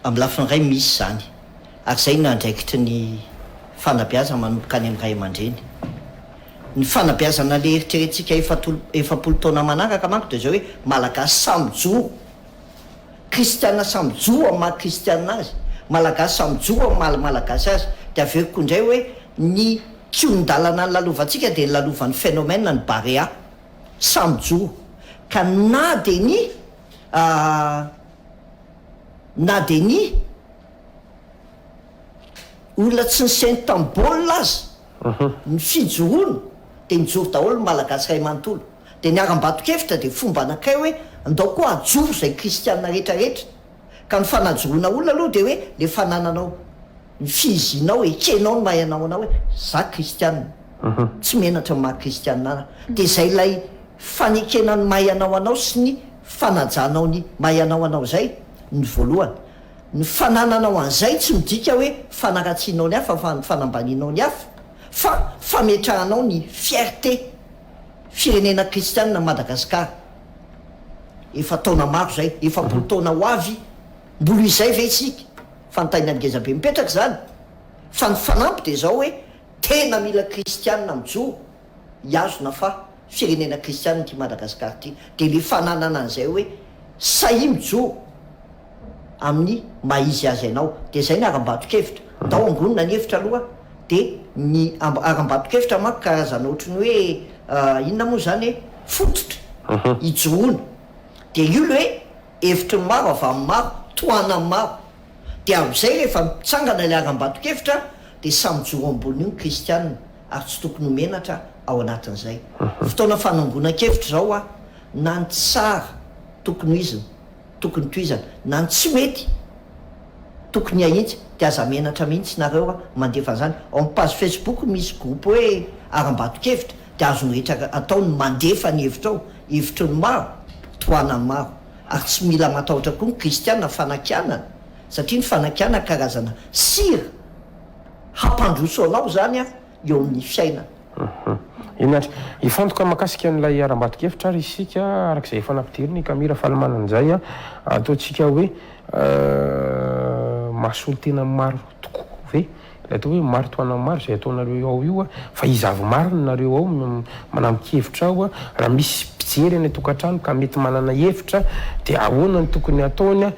amin'ny lafiny iray misy izany. Ary izay no andraikitry ny fanabeazana manomboka any amin'ny ray aman-dreny. Ny fanabeazana le eritreretintsika efapolo taona manaraka manko dia izao hoe Malagasy samy joro, Kristiana samy joro amin'ny maha Kristiana azy, Malagasy samy joro amin'ny maha Malagasy azy. Dia averiko indray hoe ny kihon-dalana nilalovantsika dia nilalovan'ny phénomène ny Barea, samy joro. Ka na dia ny, na dia ny. Olona tsy nisento tamin'ny baolina aza ny fijoroana dia nijoro daholo ny Malagasy iray manontolo dia niharam-bato-kevitra dia fomba anankiray hoe andao koa hajoro izay kristianina rehetra rehetra ka ny fanajoroana olona aloha dia hoe ilay fanananao ny fihizianao ekenao ny maha ianao anao hoe za kristianina tsy menatra ny maha kristianina ana dia izay ilay fanekena ny maha ianao anao sy ny fanajanao ny maha ianao anao izay ny voalohany Ny fanananao an'izay tsy midika hoe fanaratsianao ny hafa fa fanambanianao ny hafa, fa fametrahanao ny fierté firenena kristianina Madagascar. Efa taona maro izay, efapolo taona ho avy, mbola izay ve isika? Fanontaniana ngeza be mipetraka izany, fa ny fanampy dia izao hoe tena mila kristianina mijoro hihazona fa firenena kristianina ity Madagasikara ity, dia ilay fananana an'izay hoe sahia mijoro amin'ny maha izy azy anao, dia izay ny harambato-kevitra, ndao angonina ny hevitra aloha, dia ny harambato-kevitra manko karazana ohatry ny hoe inona moa izany e? fototra hijoroana, dia io ilay hoe hevitry ny maro, avy amin'ny maro, tohanan'ny maro, Dia amin'izay rehefa mitsangana ilay harambato-kevitra dia samy mijoro ambony io ny kristianina ary tsy tokony ho menatra ao anatin'izay. Fotoana fanangonan-kevitra izao hoa na ny tsara tokony ho izina, tokony tohizana, na ny tsy mety tokony ahitsy dia aza menatra mihitsy nareo hoa mandefa an'izany. Ao amin'ny page facebook misy groupe hoe harambato-kevitra dia azon'ny rehetra atao ny mandefa ny hevitra ao, hevitry ny maro, tohanan'ny maro. Ary tsy mila matahotra koa ny kristiana fanakianana, satria ny fanakianana karazana sira hampandroso anao izany eo amin'ny fiainana. Eny ary, hifantoka mahakasika an'ilay harambato-kevitra ary isika, araka izay efa nampidirin'i Camille Rafalimanana izay, ataontsika hoe mahasolo tena maro tokoa ve Ilay atao hoe maritoana maro izay ataonareo ao io fa iza avy marina nareo ao no manampi-kevitra ao raha misy mpijery any an-tokantrano ka mety manana hevitra dia ahoana no tokony hataony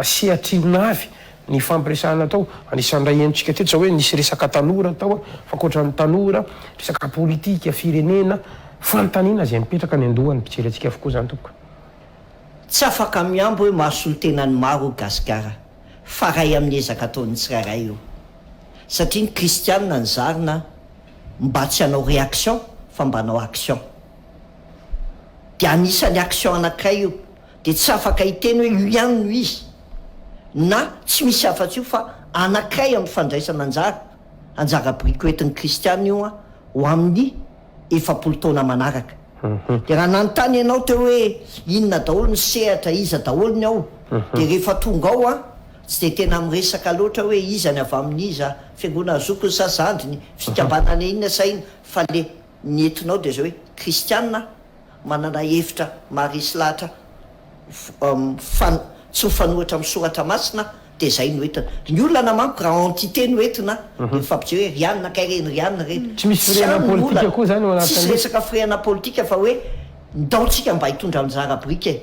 sehatr'inona avy ny fampiresahana atao anisan'ny raha henontsika teto izao hoe nisy resaka tanora tao fa ankoatran'ny tanora resaka politika firenena fanontaniana izay mipetraka any an-dohan'ny mpijery antsika avokoa izany tompoko. Tsy afaka mihambo hoe mahasolo tena ny maro gasikara. fa ray amin'ny ezaka ataon'ny tsirairay io satria ny kristianina ny zarina mba tsy hanao reaction fa mba hanao action dia anisan'ny action anankiray io dia tsy afaka hiteny hoe io ihany no izy na tsy misy afa-tsy io fa anankiray amin'ny fandraisana anjara anjara briko entin'ny kristianina io an ho amin'ny efapolo taona manaraka. Dia raha nanontany ianao teo hoe inona daholo ny sehatra, iza daholo ny ao, dia rehefa tonga ao aho, tsy dia tena miresaka loatra hoe iza ny avy amin'iza, fiangonana zokiny sa zandriny, fikambanana inona sa inona, fa ilay ny entinao dia izao hoe kristiana aho, Manana hevitra maharesy lahatra fan tsy mifanohitra amin'ny soratra masina dia zay no entina ny olana manko raha entité no entina dia mifampijeo hoe ry anona kay reny ry anona reny Tsy misy firehana politika koa zany ao anatin'le. Tsisy resaka firehana politika fa hoe ndao tsika mba hitondra anjara biriky e.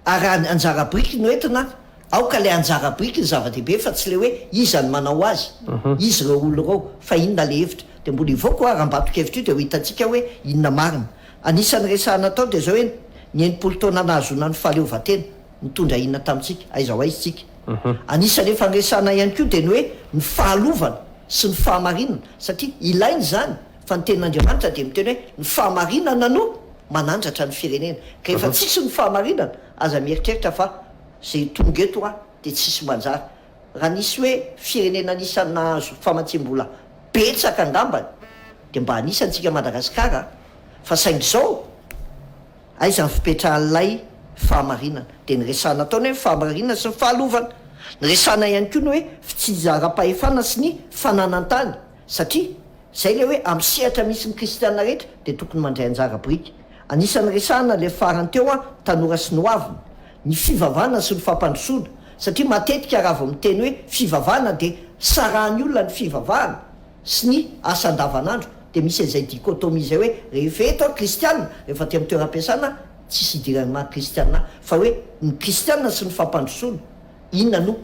Ary anjara biriky no entina, aoka ilay anjara biriky no zava-dehibe fa tsy ilay hoe iza no manao azy, iza ireo olona ireo, fa inona ilay hevitra. Dia mbola hivoaka ho'a rambatonkevitra io dia ho hitantsika hoe inona marina. Anisan'ny resahana tao dia izao hoe ny enimpolo taona nahazoana ny fahaleovantena, nitondra inona tamintsika, aiza ho aiza isika. Anisan'ny efa niresahana ihany koa dia ny hoe ny fahalovana sy ny fahamarinana satria ilaina izany. Fa ny tenin'Andriamanitra dia miteny hoe ny fahamarinana no manandratra ny firenena. Ka efa tsisy ny fahamarinana, aza mieritreritra fa izay tonga eto a dia tsisy manjary. Raha nisy hoe firenena anisan'ny nahazo famatsiam-bola betsaka angambany dia mba anisantsika Madagasikara a! Fa saingy izao aiza ny fipetrahan'ilay fahamarinana? Dia ny resahana ataony hoe ny fahamarinana sy ny fahalovana. Ny resahana ihany koa ny hoe fitsinjaram-pahefana sy ny fananan-tany. Satria, izay ilay hoe amin'ny sehatra misy ny kristiana rehetra dia tokony mandray anjara biriky. Anisan'ny resahana ilay farany teo an, tanora sy ny hoaviny, ny fivavahana sy ny fampandrosoana, satria matetika raha vao miteny hoe fivavahana dia sarahan'ny olona ny fivavahana sy ny asa andavanandro, dia misy an'izay dichotomie izay hoe rehefa eto an, kristiana, rehefa aty amin'ny toeram-piasana an, tsisy idiran'ny maha kristiana ahy, fa hoe ny kristiana sy ny fampandrosoana. Inona no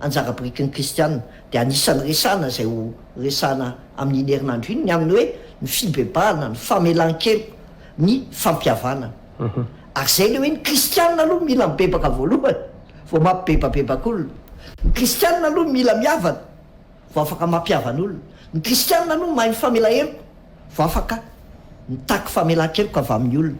anjara biriky ny kristiana? Dia anisan'ny resahana izay ho resahana amin'iny herinandro iny ny amin'ny hoe ny fibebahana, ny famelan-keloka, ny fampihavanana. Ary izay ilay hoe ny kristiana aloha mila mibebaka voalohany vao mampibebabebaka olona. Ny kristiana aloha mila mihavana Vao afaka mampihavan'olona. Ny kristianina aloha mahay mifamela heloka, vao afaka mitaky famelan-keloka avy amin'ny olona.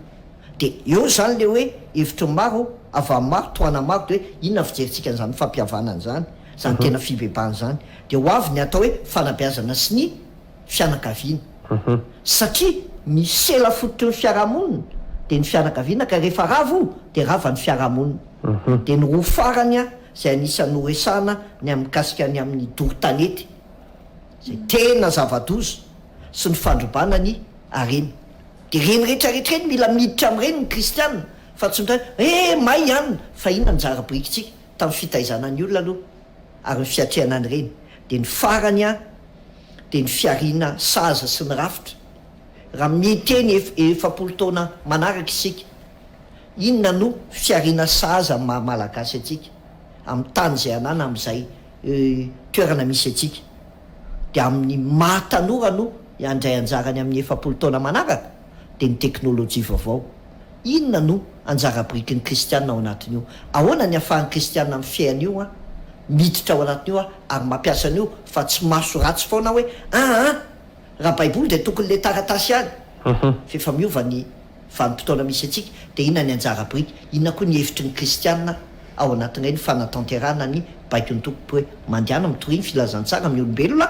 Dia eo izany ilay hoe hevitry ny maro, avy amin'ny maro, tohanan'ny maro, dia hoe inona ny fijerintsika an'izany fampihavanana izany, izany tena fibebahana izany. Dia ho avy ny atao hoe fanabeazana sy ny fianakaviana. Satria ny sela fototry ny fiarahamonina dia ny fianakaviana, ka rehefa rava io dia rava ny fiarahamonina. Dia ny roa farany a. izay anisan'ny noresahana ny amin'ny mikasika ny amin'ny doro tanety izay tena zava-doza sy ny fandrobana ny harena. Dia ireny rehetra rehetra ireny mila miditra amin'ireny ny kristiana fa tsy miteny hoe eh may ihany fa inona no zara birikintsika tamin'ny fitaizana ny olona aloha ary ny fiatrehana an'ireny dia ny farany a dia ny fiariana sahaza sy ny rafitra raha miteny ef efapolo taona manaraka isika Inona no fihariana sahaza amin'ny maha Malagasy antsika, amin'ny tany izay anana, amin'izay toerana misy antsika? Dia amin'ny maha tanora no handray anjarany amin'ny efapolo taona manaraka? Dia ny teknolojia vaovao. Inona no anjara birikin'ny kristiana ao anatin'io? Ahoana ny ahafahan'ny kristiana mifehy an'io, miditra ao anatin'io ary mampiasa an'io fa tsy maso ratsy foana hoe, aa, raha baiboly dia tokony ilay taratasy ihany? F'efa miova ny Vanim-potoana misy antsika, dia inona ny anjara biriky, inona koa ny hevitry ny kristiana ao anatin'ilay ny fanatanterahana ny baikon'ny Tompo hoe, Mandehana mitoria ny filazantsara amin'ny olombelona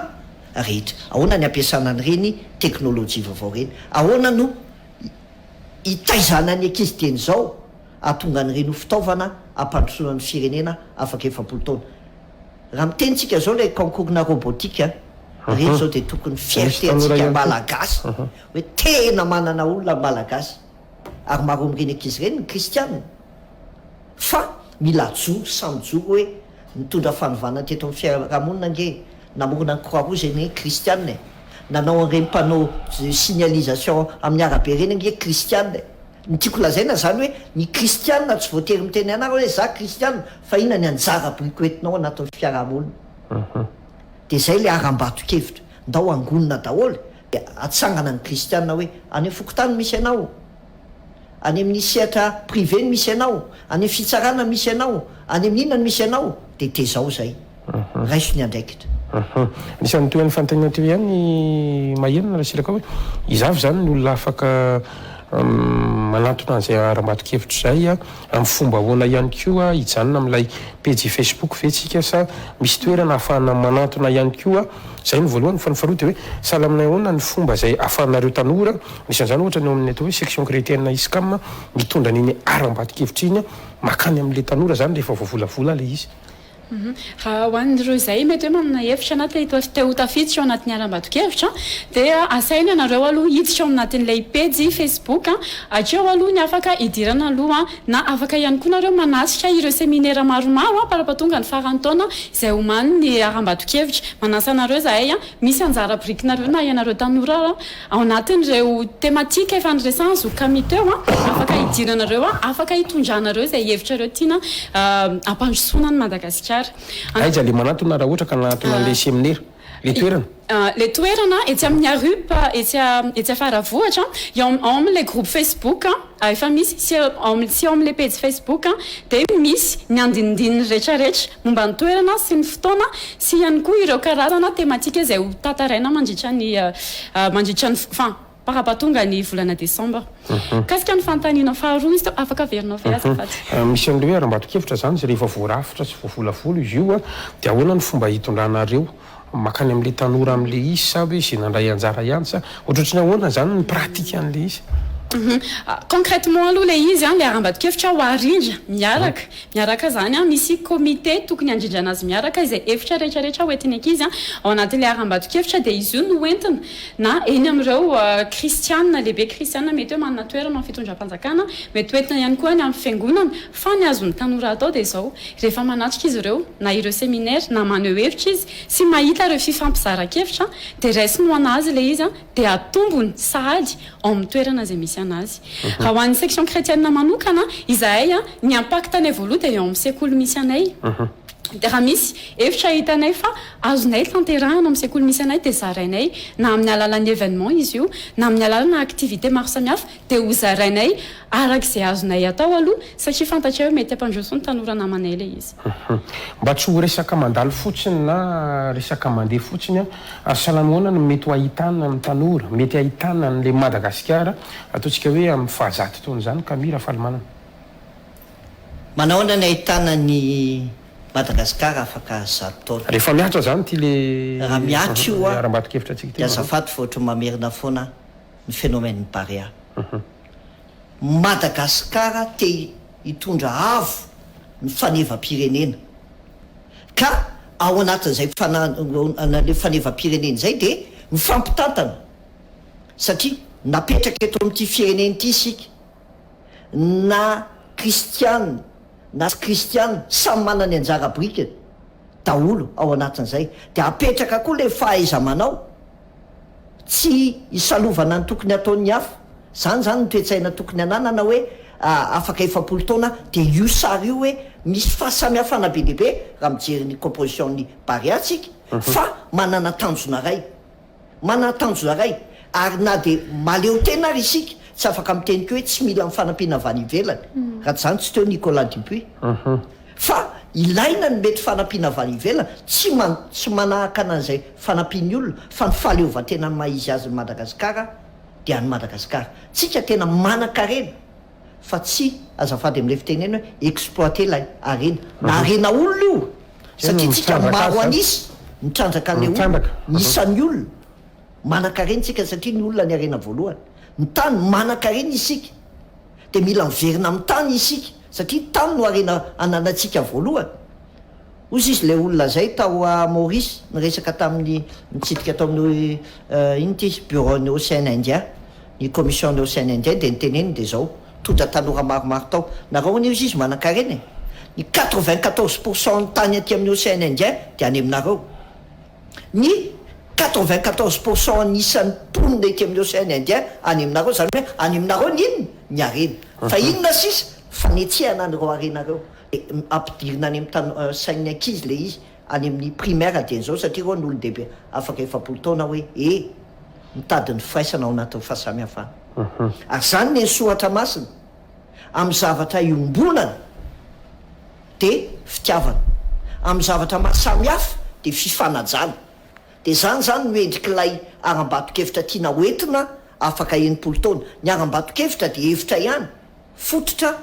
rehetra. Ahoana ny ampiasana an'ireny teknolojia vaovao ireny? Ahoana no hitaizana ny ankizy dieny izao hahatonga an'ireny ho fitaovana hampandrosoana ny firenena afaka efapolo taona? Raha miteny tsika izao ilay concours-na robotique, ireny izao dia tokony fierté antsika malagasy. hoe tena manana olona ny Malagasy ary maro amin'ireny ankizy ireny ny kristianina fa mila ajoro sa mijoro hoe nitondra fanovana teto amin'ny fiarahamonina ange e, namorona ny croix rouge ange kristianina e, nanao an'ireny panneau de signalisation amin'ny arabe ireny ange kristianina e. Ny tiako lazaina izany hoe ny kristianina tsy voatery miteny ianareo hoe za kristianina fa inona ny anjara biriko entinao anatin'ny fiarahamonina dia izay ilay harambato-kevitra ndao hangonina daholo e. Dia atsangana ny kristiana hoe, any amin'ny fokontany misy anao, any amin'ny sehatra privé no misy anao, any amin'ny fitsarana no misy anao, any amin'ny inona no misy anao, dia tezao izay, raiso ny andraikitra. Anisan'ny toy an'io fanontaniana teo ihany ny Maherina Rasilaka hoe, izaho ve izany no olona afaka manantona an'izay harambato-kevitra izay? Amin'ny fomba ahoana ihany koa hijanona amin'ilay pejy Facebook ve tsika sa misy toerana ahafahana manantona ihany koa? Izay no voalohany fa ny faharoa dia hoe sahala aminay ahoana ny fomba izay ahafahanareo tanora, anisan'izany ohatra ny ao amin'ny atao hoe section chrétienne ISCAM mitondra an'iny haram-bato-kevitra iny makany amin'ilay tanora izany rehefa voavolavola ilay izy. Raha ho an'ireo izay mety hoe manana hevitra na te ho tafiditra ao anatin'ny harambato-kevitra dia asaina ianareo aloha hiditra ao anatin'ilay pejy Facebook hatreo aloha ny afaka hidirana aloha na afaka ihany koa nareo manatrika ireo seminera maromaro par ampahatonga ny faran'ny taona izay homanin'ny harambato-kevitra manasa anareo izahay misy anjara birikinareo na ianareo tanora Ao anatin'ireo tematika efa niresahan'i Zoky Camille teo, afaka hidiranareo, afaka hitondranareo izay hevitrareo tiana hampandrosoana an'i Madagasikara. Aiza ilay manantona raha ohatra ka hanantona an'ilay seminera? Ilay toerana? Ilay toerana etsy amin'ny ARUP, etsy Faravohitra, ao amin'ilay groupe Facebook. Efa misy, tsy eo amin'ilay pejy Facebook dia misy ny andinindininy rehetrarehetra momba ny toerana sy ny fotoana sy ihany koa ireo karazana tematika izay ho tantaraina mandritra ny mandritra ny enfin par hapatonga ny volana desambra. Mikasika ny fanontaniana faharoa izy teo, afaka averinao ve azafady? Misy an'ireo hoe arambato-kevitra izany sy rehefa voarafitra sy voavolavola izy io dia ahoana ny fomba hitondranareo Mankany amin'ilay tanora amin'ilay izy sa hoe izay nandray anjara ihany sa ohatrohatry ny ahoana izany ny pratique an'ilay izy? Concrètement aloha ilay izy an, ilay harambato-kevitra ho arindra miaraka, miaraka izany an, misy comité tokony handrindrana azy miaraka, izay hevitra rehetra rehetra hoentin'ny ankizy an, ao anatin'ilay harambato-kevitra dia izy io no hoentina, na eny amin'ireo kristiana, lehibe kristiana mety hoe manana toerana amin'ny fitondram-panjakana, mety hoentina ihany koa any amin'ny fiangonana, Fa ny azon'ny tanora atao dia izao, rehefa manatrika izy ireo na ireo seminaire na maneho hevitra izy sy mahita ireo fifampizaran-kevitra dia raisiny ho an'azy ilay izy dia atombony sahady ao amin'ny toerana izay misy an'azy. Raha ho an'ny section chrétienne manokana izahay ny impact anay voaloha dia eo amin'ny sekoly misy anay dia raha misy hevitra hitanay fa azonay tanterahina amin'ny sekoly misy anay dia zarainay na amin'ny alalan'ny événement izy io na amin'ny alalana activité maro samihafa Dia ho zarainay araka izay azonay atao aloha satria fantatray hoe mety hampandroso ny tanora namanay ilay izy. Mba tsy ho resaka mandalo fotsiny na resaka mandeha fotsiny an, ary salama ahoana no mety ho ahitana amin'ny tanora, mety ahitana an'ilay Madagasikara ataontsika hoe amin'ny fahazato taona izany ka mi Rafalimanana? Manahoana ny ahitana ny Madagasikara afaka zato taona? Rehefa mihatra izany ity ilay harambato-kevitra antsika ity Maroa. Raha mihatra io an, dia azafady fa ohatran'ny mamerina foana aho. ny phénomène Barea. Madagasikara te hitondra avo ny fanevam-pirenena ka ao anatin'izay fananan'ilay fanevam-pirenena izay dia mifampitantana satria napetraka eto amin'ity firenena ity isika na kristiana na tsy kristiana samy manana ny anjara birikiny daholo ao anatin'izay dia apetraka koa ilay fahaiza-manao Tsy isalovana ny tokony hataon'ny hafa. Izany izany ny toe-tsaina tokony hananana hoe afaka efapolo taona dia io sary io hoe misy fahasamihafana be dia be raha mijery ny composition-n'ny Barea tsika fa manana tanjona iray. Manana tanjona iray ary na dia mahaleotena ary isika tsy afaka miteny koa hoe tsy mila ny fanampiana avy any ivelany raha tsy izany tsy teo Nicolas Dupuis. Fa ilaina ny mety fanampiana avy any ivelany, tsy man, tsy manahakana an'izay fanampian'ny olona, fa ny fahaleovantenan'ny maha izy azy ny Madagasikara dia an'i Madagasikara. Tsika tena manankarena, fa tsy, azafady amin'ilay fitenena hoe, exploiter ilay harena. Na harena olona io, satria tsika maro an'isa, mitrandraka an'ilay olona, ny isan'ny olona, manankarena tsika satria ny olona ny harena voalohany. Ny tany, manankarena isika, dia mila miverina amin'ny tany isika. Satria tany no harena ananantsika voalohany. Hozy izy ilay olona izay tao Maurice niresaka tamin'ny nitsidika tao amin'ny inona ity izy? Bureau-n'ny Ocean Indien, ny Commission-n'ny Ocean Indien dia niteneniny dia izao, tondra tanora maromaro tao. Nareo anie hozy izy manankarena e! Ny quatre-vingt-quatorze pour cent-n'ny tany aty amin'ny Ocean Indien dia any aminareo. ny quatre-vingt-quatorze pour cent an'isan'ny mponina ety amin'ny Océan Indien any aminareo, izany hoe any aminareo ny inona? ny harena. Fa inona sisa? fanetsehana an'ireo harena ireo. Dia ampidirina any amin'ny sain'ny ankizy ilay izy, any amin'ny primaire dieny izao, satria ireo no olon-dehibe afaka efapolo taona hoe ee, mitady ny firaisana ao anatin'ny fahasamihafana. Ary izany ny eny Soatramasina. amin'ny zavatra iombonana dia fitiavana, amin'ny zavatra mahasamihafa dia fifanajana, dia izany izany no endrik'ilay harambato-kevitra tiana hoentina afaka enimpolo taona. Ny harambato-kevitra dia hevitra ihany, fototra,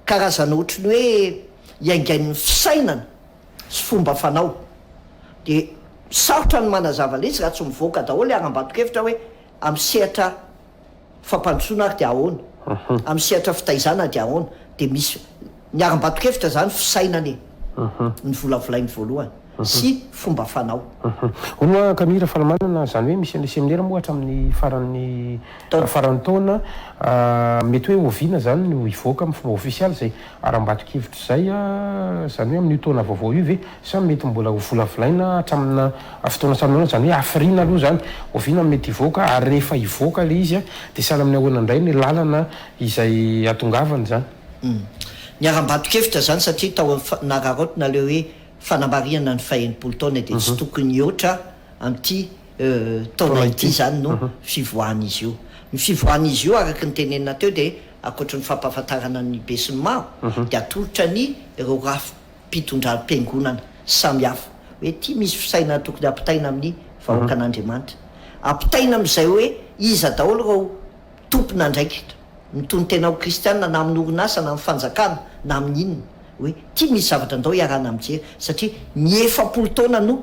karazana ohatry ny hoe iaingain'ny fisainana sy fomba fanao. Dia sarotra ny manazava ilay izy raha tsy mivoaka daholo ilay harambato-kevitra hoe amin'ny sehatra Fampandrosoana ary dia ahoana? Amin'ny sehatra fitaizana dia ahoana? Dia misy niharam-bato-kevitra izany fisainana e! Novolavolainy voalohany sy fomba fanao. Hono hoa Kami Rafalamanana, izany hoe misy an'ilay seminera moa hatramin'ny faran'ny faran'ny taona, mety hoe oviana izany no hivoaka amin'ny fomba ofisialy izay Ary ambadik'hevitra izay, izany hoe amin'io taona vaovao io ve sa mety mbola ho volavolaina hatraminà fotoana sahanin'ahoana? Izany hoe hafiriana aloha izany, oviana no mety hivoaka? Ary rehefa hivoaka ilay izy, dia sahala amin'ny ahoana indray ny làlana izay hatongavana izany? Ny haram-bato-kevitra izany, satria tao amin'ny nararaotina ilay hoe fanambariana ny fahenimpolo taona, dia tsy tokony hihoatra amin'ity taona ity izany no fivoahan'izy io. Ny fivoahan'izy io, araka ny tenenina teo, dia. ankoatry ny fampahafantarana ny besinimaro dia atolotra ny ireo rafi-pitondram-piangonana samihafa hoe ity misy fisainana tokony hampitaina amin'ny vahoakan'Andriamanitra. Ampitaina amin'izay hoe iza daholo ireo tompon'andraikitra mitonon-tena ho kristiana na amin'ny orinasa na amin'ny fanjakana na amin'ny inona hoe ity misy zavatra ndao iarahana mijery satria ny efapolo taona no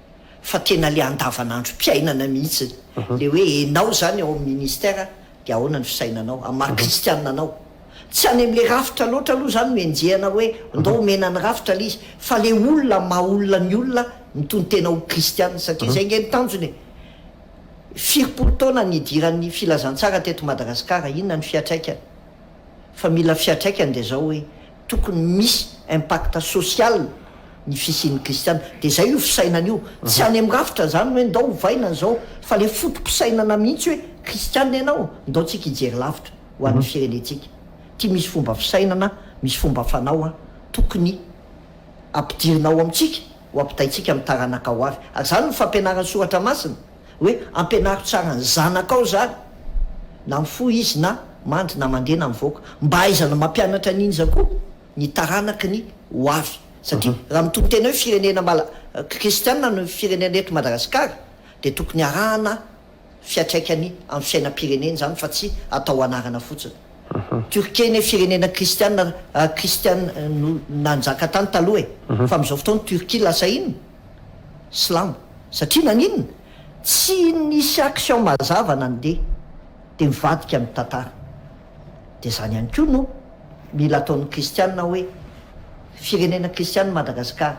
fa tena le andavanandro piainana mihitsy le hoe enao zany ao am ministère de ahoana ny fisainanao am maha kristianina anao tsy any am le rafitra loatra aloha zany no enjehana hoe ndao omena ny rafitra le izy fa le olona am maha olona ny olona mitonontena ho kristianina satria zay nge ny tanjony e firipory taona ny idiran ny filazantsara teto Madagasikara inona ny fiatraikany fa mila fiatraikany de zao hoe tokony misy impact social ny fisian'ny kristiana dia izay io fisainana io, tsy any amin'ny rafitra izany hoe ndao ovaina an'izao fa ilay foto-pisainana mihitsy hoe kristiana ianao, ndao tsika hijery lavitra ho an'ny firenentsika, ity misy fomba fisainana, misy fomba fanao tokony ampidirina ao amintsika. ho ampitaintsika amin'ny taranaka ho avy. Ary izany no fampianaran'ny Soratra Masina, hoe, Ampianaro tsara ny zanakao izany, na mifoha izy na mandry na mandeha na mivoaka. Mba hahaizana mampianatra an'iny izany koa ny taranaky ny ho avy. Satria raha mitonon-tena hoe firenena mala, kristiana ny firenena eto Madagasikara, dia tokony harahana. fiatraikany amin'ny fiainam-pirenena izany fa tsy atao anarana fotsiny. Turquie anie firenena kristiana kristiana no nanjaka tany taloha e! fa amin'izao fotoana Turquie lasa inona? silamo. Satria naninona? tsy nisy action mazava nandeha dia mivadika ny tantara. Dia izany ihany koa no mila ataon'ny kristiana hoe firenena kristiana i Madagasikara.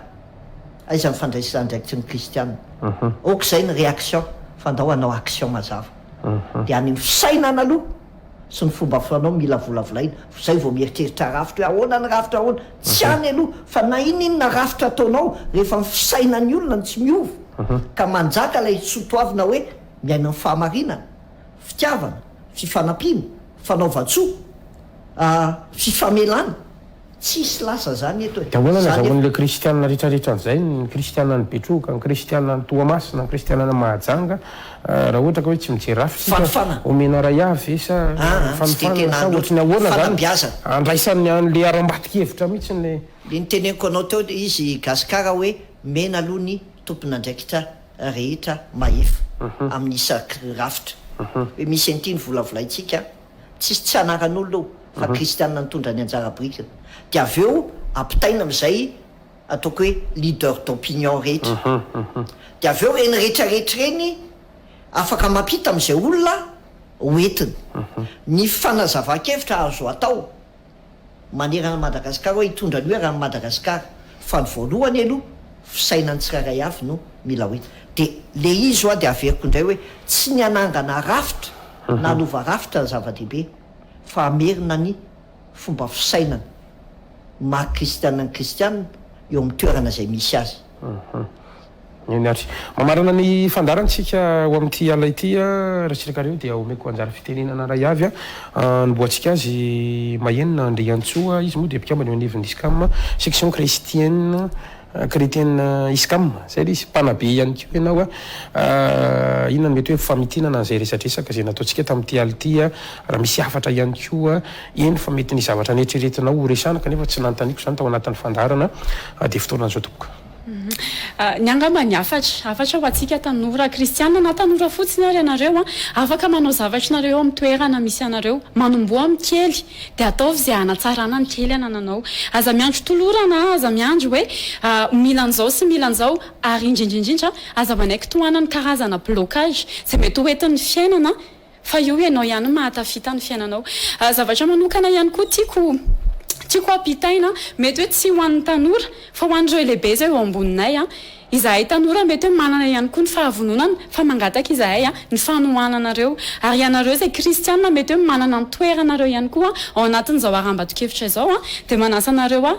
Aiza ny fandraisana andraikitry ny kristiana? ok izay ny reaction fa ndao hanao action mazava dia any amin'ny fisainana aloha sy ny fomba fanao mila volavolaina izay vao mieritreritra rafitra hoe ahoana ny rafitra ahoana tsy any aloha fa na ininona rafitra ataonao rehefa ny fisainan'ny olona no tsy miova ka manjaka ilay sotoavina hoe miaina ny fahamarinana fitiavana fifanampiana fanaovan-tsoa fifamelana Tsisy lasa zany eto e. De ahoana ny azahoan'ilay kristianina retraretra an'izay, ny kristianan'i Betroka, ny kristianan'i Toamasina, ny kristianan'i Mahajanga, raha ohatra ka hoe tsy mijery rafitra isika? Fanofana. Omena iray avy ve sa Aa, tsy dia fanofana tena sa ohatry ny hanoto. ahoana izany? Fanabeazana. Andraisan'ny an'ilay haram-bato-kevitra mihitsiny ilay. Le niteneniko anao teo le izy Gascar hoe omena aloha ny tompon'andraikitra rehetra mahefa amin'ny isa rafitra. Hoe misy an'ity novolavolaintsika Tsisy tsy anaran'olona io fa kristianina nitondra ny anjara birikiny dia avy eo ampitaina amin'izay ataoko hoe leader d'opinion rehetra dia avy eo ireny rehetrarehetra ireny afaka mampita amin'izay olona ho entiny. Ny fanazavan-kevitra azo atao. manerana an'i Madagasikara hoe hitondra ny hoe rà an'i Madagasikara fa ny voalohany aloha fisainan'ny tsirairay avy no mila ho hita dia le izy hoa dia averiko indray hoe tsy ny hanangana rafitra na hanova rafitra no zava-dehibe fa hamerina ny fomba fisainana maha kristiana ny kristiana eo amin'ny toerana izay misy azy. Eny ary. Mamarana ny fandaharantsika ao amin'ity alina ity Ratsirakario dia omeko anjara fitenenana iray avy hanombohantsika azy. Mahenina Andriantsoa, izy moa dia mpikambana eo anivon'ny Iscam, section chrestienne, chrétienne Iscam, izay ilay izy. Mpanabe ihany koa ianao. Inona no mety hoe famitinana an'izay resadresaka izay nataontsika tamin'ity alina ity? Raha misy hafatra ihany koa, eny fa mety ny zavatra neritreretinao horesahana kanefa tsy nanontaniako izany tao anatin'ny fandaharana dia fotoanan'izao tompoko. Ny angamba ny hafatra, hafatra ho antsika tanora kristiana na tanora fotsiny ary ianareo an, afaka manao zavatra ianareo eo amin'ny toerana misy anareo, manomboha amin'ny kely dia ataovy izay hanatsarana ny kely anananao, aza miandry tolorana, aza miandry hoe mila an'izao sy mila an'izao, ary indrindra indrindra aza manaiky tohanan'ny karazana blocage izay mety ho entin'ny fiainana, Fa io ianao ihany no mahatafita ny fiainanao. Zavatra manokana ihany koa tiako tiako hampitaina, mety hoe tsy ho an'ny tanora fa ho an'ireo lehibe izay eo amboninay. Izahay tanora mety hoe manana ihany koa ny fahavononana fa mangataka izahay ny fanohananareo. Ary ianareo izay kristiana mety hoe manana ny toeranareo ihany koa ao anatin'izao harambato-kevitra izao dia manasa anareo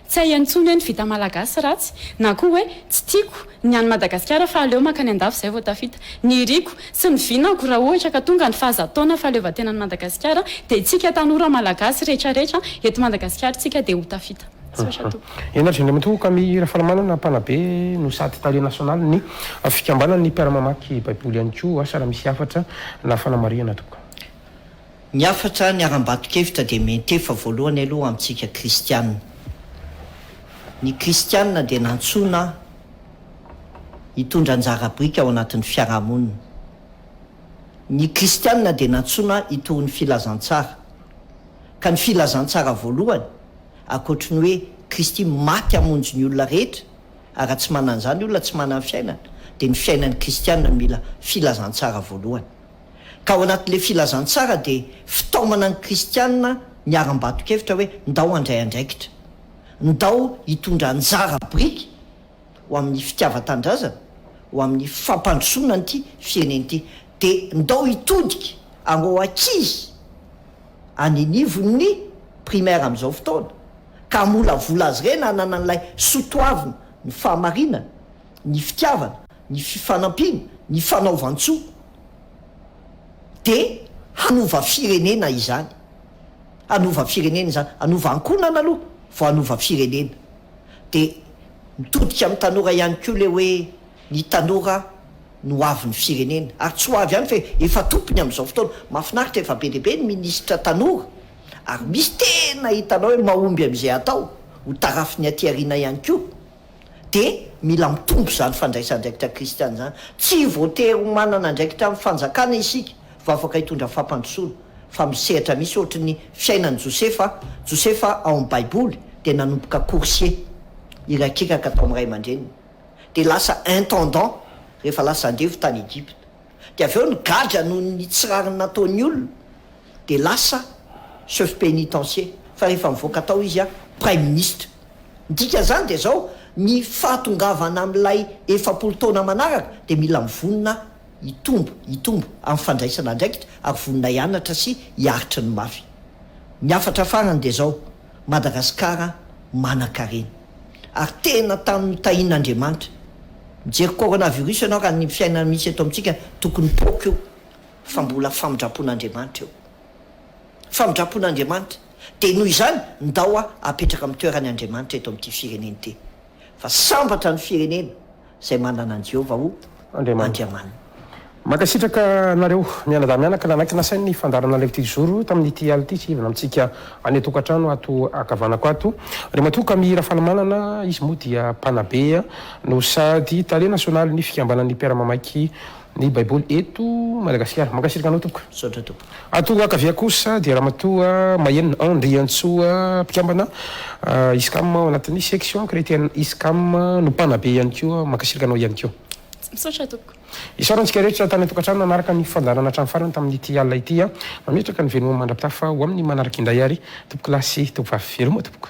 Tsy hay intsony hoe ny vita malagasy ratsy na koa hoe tsy tiako ny any Madagasikara fa aleo mankany andafy izay vao tafita. Ny iriko sy ny vinako raha ohatra ka tonga ny fahazatotaona fahaleovantenan'i Madagasikara dia tsika tanora malagasy rehetra rehetra eto Madagasikara tsika dia ho tafita. Misaotra tompoko. Henary zy Andriamatoa Camille Rafalamanana mpanabe no sady tale nasionaly ny fikambanan'ny mpiara-mamaky baiboly ihany koa asa raha misy hafatra na fanamarihana tompoko. Ny hafatra niharam-bato-kevitra dia miantefa voalohany aloha amintsika kristiana. Ny kristiana dia nantsoina hitondra anjara biriky ao anatin'ny fiarahamonina. Ny kristiana dia nantsoina hitory ny filazantsara. Ka ny filazantsara voalohany, ankoatry ny hoe Kristy maty hamonjy ny olona rehetra, ary raha tsy manana izany olona tsy manana fiainana, dia ny fiainan'ny kristiana no mila filazantsara voalohany. Ka ao anatin'ilay filazantsara dia fitaomana ny kristiana ny harambato-kevitra hoe ndao handray andraikitra, ndao hitondra anjara biriky ho amin'ny fitiavan-tanindrazana, ho amin'ny fampandrosoana an'ity firenena ity. Dia ndao hitodika areo ankizy any anivon'ny primaire amin'izao fotoana ka hamolavola azy ireny hanana an'ilay soa toavina, ny fahamarinana, ny fitiavana, ny fifanampiana, ny fanaovan-tsoa dia hanova firenena izany, hanova firenena izany, hanova ankohonana aloha vao hanova firenena, dia mitodika amin'ny tanora ihany koa ilay hoe ny tanora no ho avin'ny firenena ary tsy ho avy ihany fa efa tompony amin'izao fotoana, mahafinaritra efa be dia be ny minisitra tanora ary misy tena hitanao hoe mahomby amin'izay atao, ho tarafin'ny aty aoriana ihany koa. dia mila mitombo izany fandraisan-draikitra kristiana izany. Tsy voatery ho manana andraikitra amin'ny fanjakana isika vao afaka hitondra fampandrosoana, fa misy sehatra misy ohatry ny fiainan'i Josefa, Josefa ao amin'ny Baiboly dia nanomboka coursier, irakiraka tao amin'ny ray aman-dreniny, dia lasa intendant rehefa lasa andevo tany Egypta. Dia avy eo nigadra noho ny tsy rariny nataony olona dia lasa chef pénitencier fa rehefa nivoaka tao izy praiminisitra. Ny dikan'izany dia izao, ny fahatongavana amin'ilay efapolo taona manaraka dia mila mivonona hitombo, hitombo amin'ny fandraisana andraikitra ary vonona hianatra sy hiaritry ny mafy. Ny hafatra farany dia izao. Madagasikara manankarena ary tena tamin'ny tahin'Andriamanitra. Mijery coronavirus ianao raha ny fiainana misy eto amintsika tokony poaka io fa mbola famindrampon'Andriamanitra io. Famindrampon'Andriamanitra dia noho izany ndao apetraka amin'ny toerany Andriamanitra eto amin'ity firenena ity fa sambatra ny firenena. izay manana an'i Jehovah ho Andriamaniny. Mankasitraka anareo mianadahy mianaka nanaiky nasainy ny fandaharana live ity jour io tamin'ity alina ity hihavana amintsika any antokantrano ato ankavanako ato ry matoa kami rafalimanana izy moa dia mpanabe no sady tale nasionalin'ny fikambanan'ny mpiara-mamaiky ny baiboly eto Madagasikara. Mankasitraka anao tompoko. Misaotra tompoko. Ato Ankavia kosa dia Ramatoa Mahenina Andriantsoa mpikambana ISCAM ao anatin'ny section chretienne ISCAM no mpanabe ihany koa. Mankasitraka anao ihany koa. Misaotra tompoko. Isaorana antsika rehetra tany an-tokantrano nanaraka ny fandaharana hatramin'ny farany tamin'ity alina ity. Mametraka ny veloma mandra-pitafa ho amin'ny manaraka indray ary Tompokolahy sy Tompovavy. Veloma tompoko.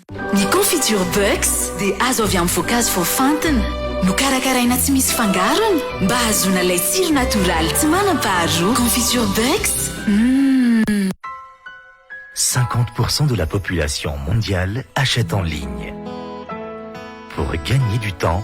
Ny Confiture Bucks dia azo avy amin'ny voankazo voafantina, nokarakaraina tsy misy fangarony mba hahazoana ilay tsiro natoraly tsy manam-paharoa. Confiture Bucks, Mmm. Cinquante pour cent de la population mondiale achète en ligne. Pour gagner du temps,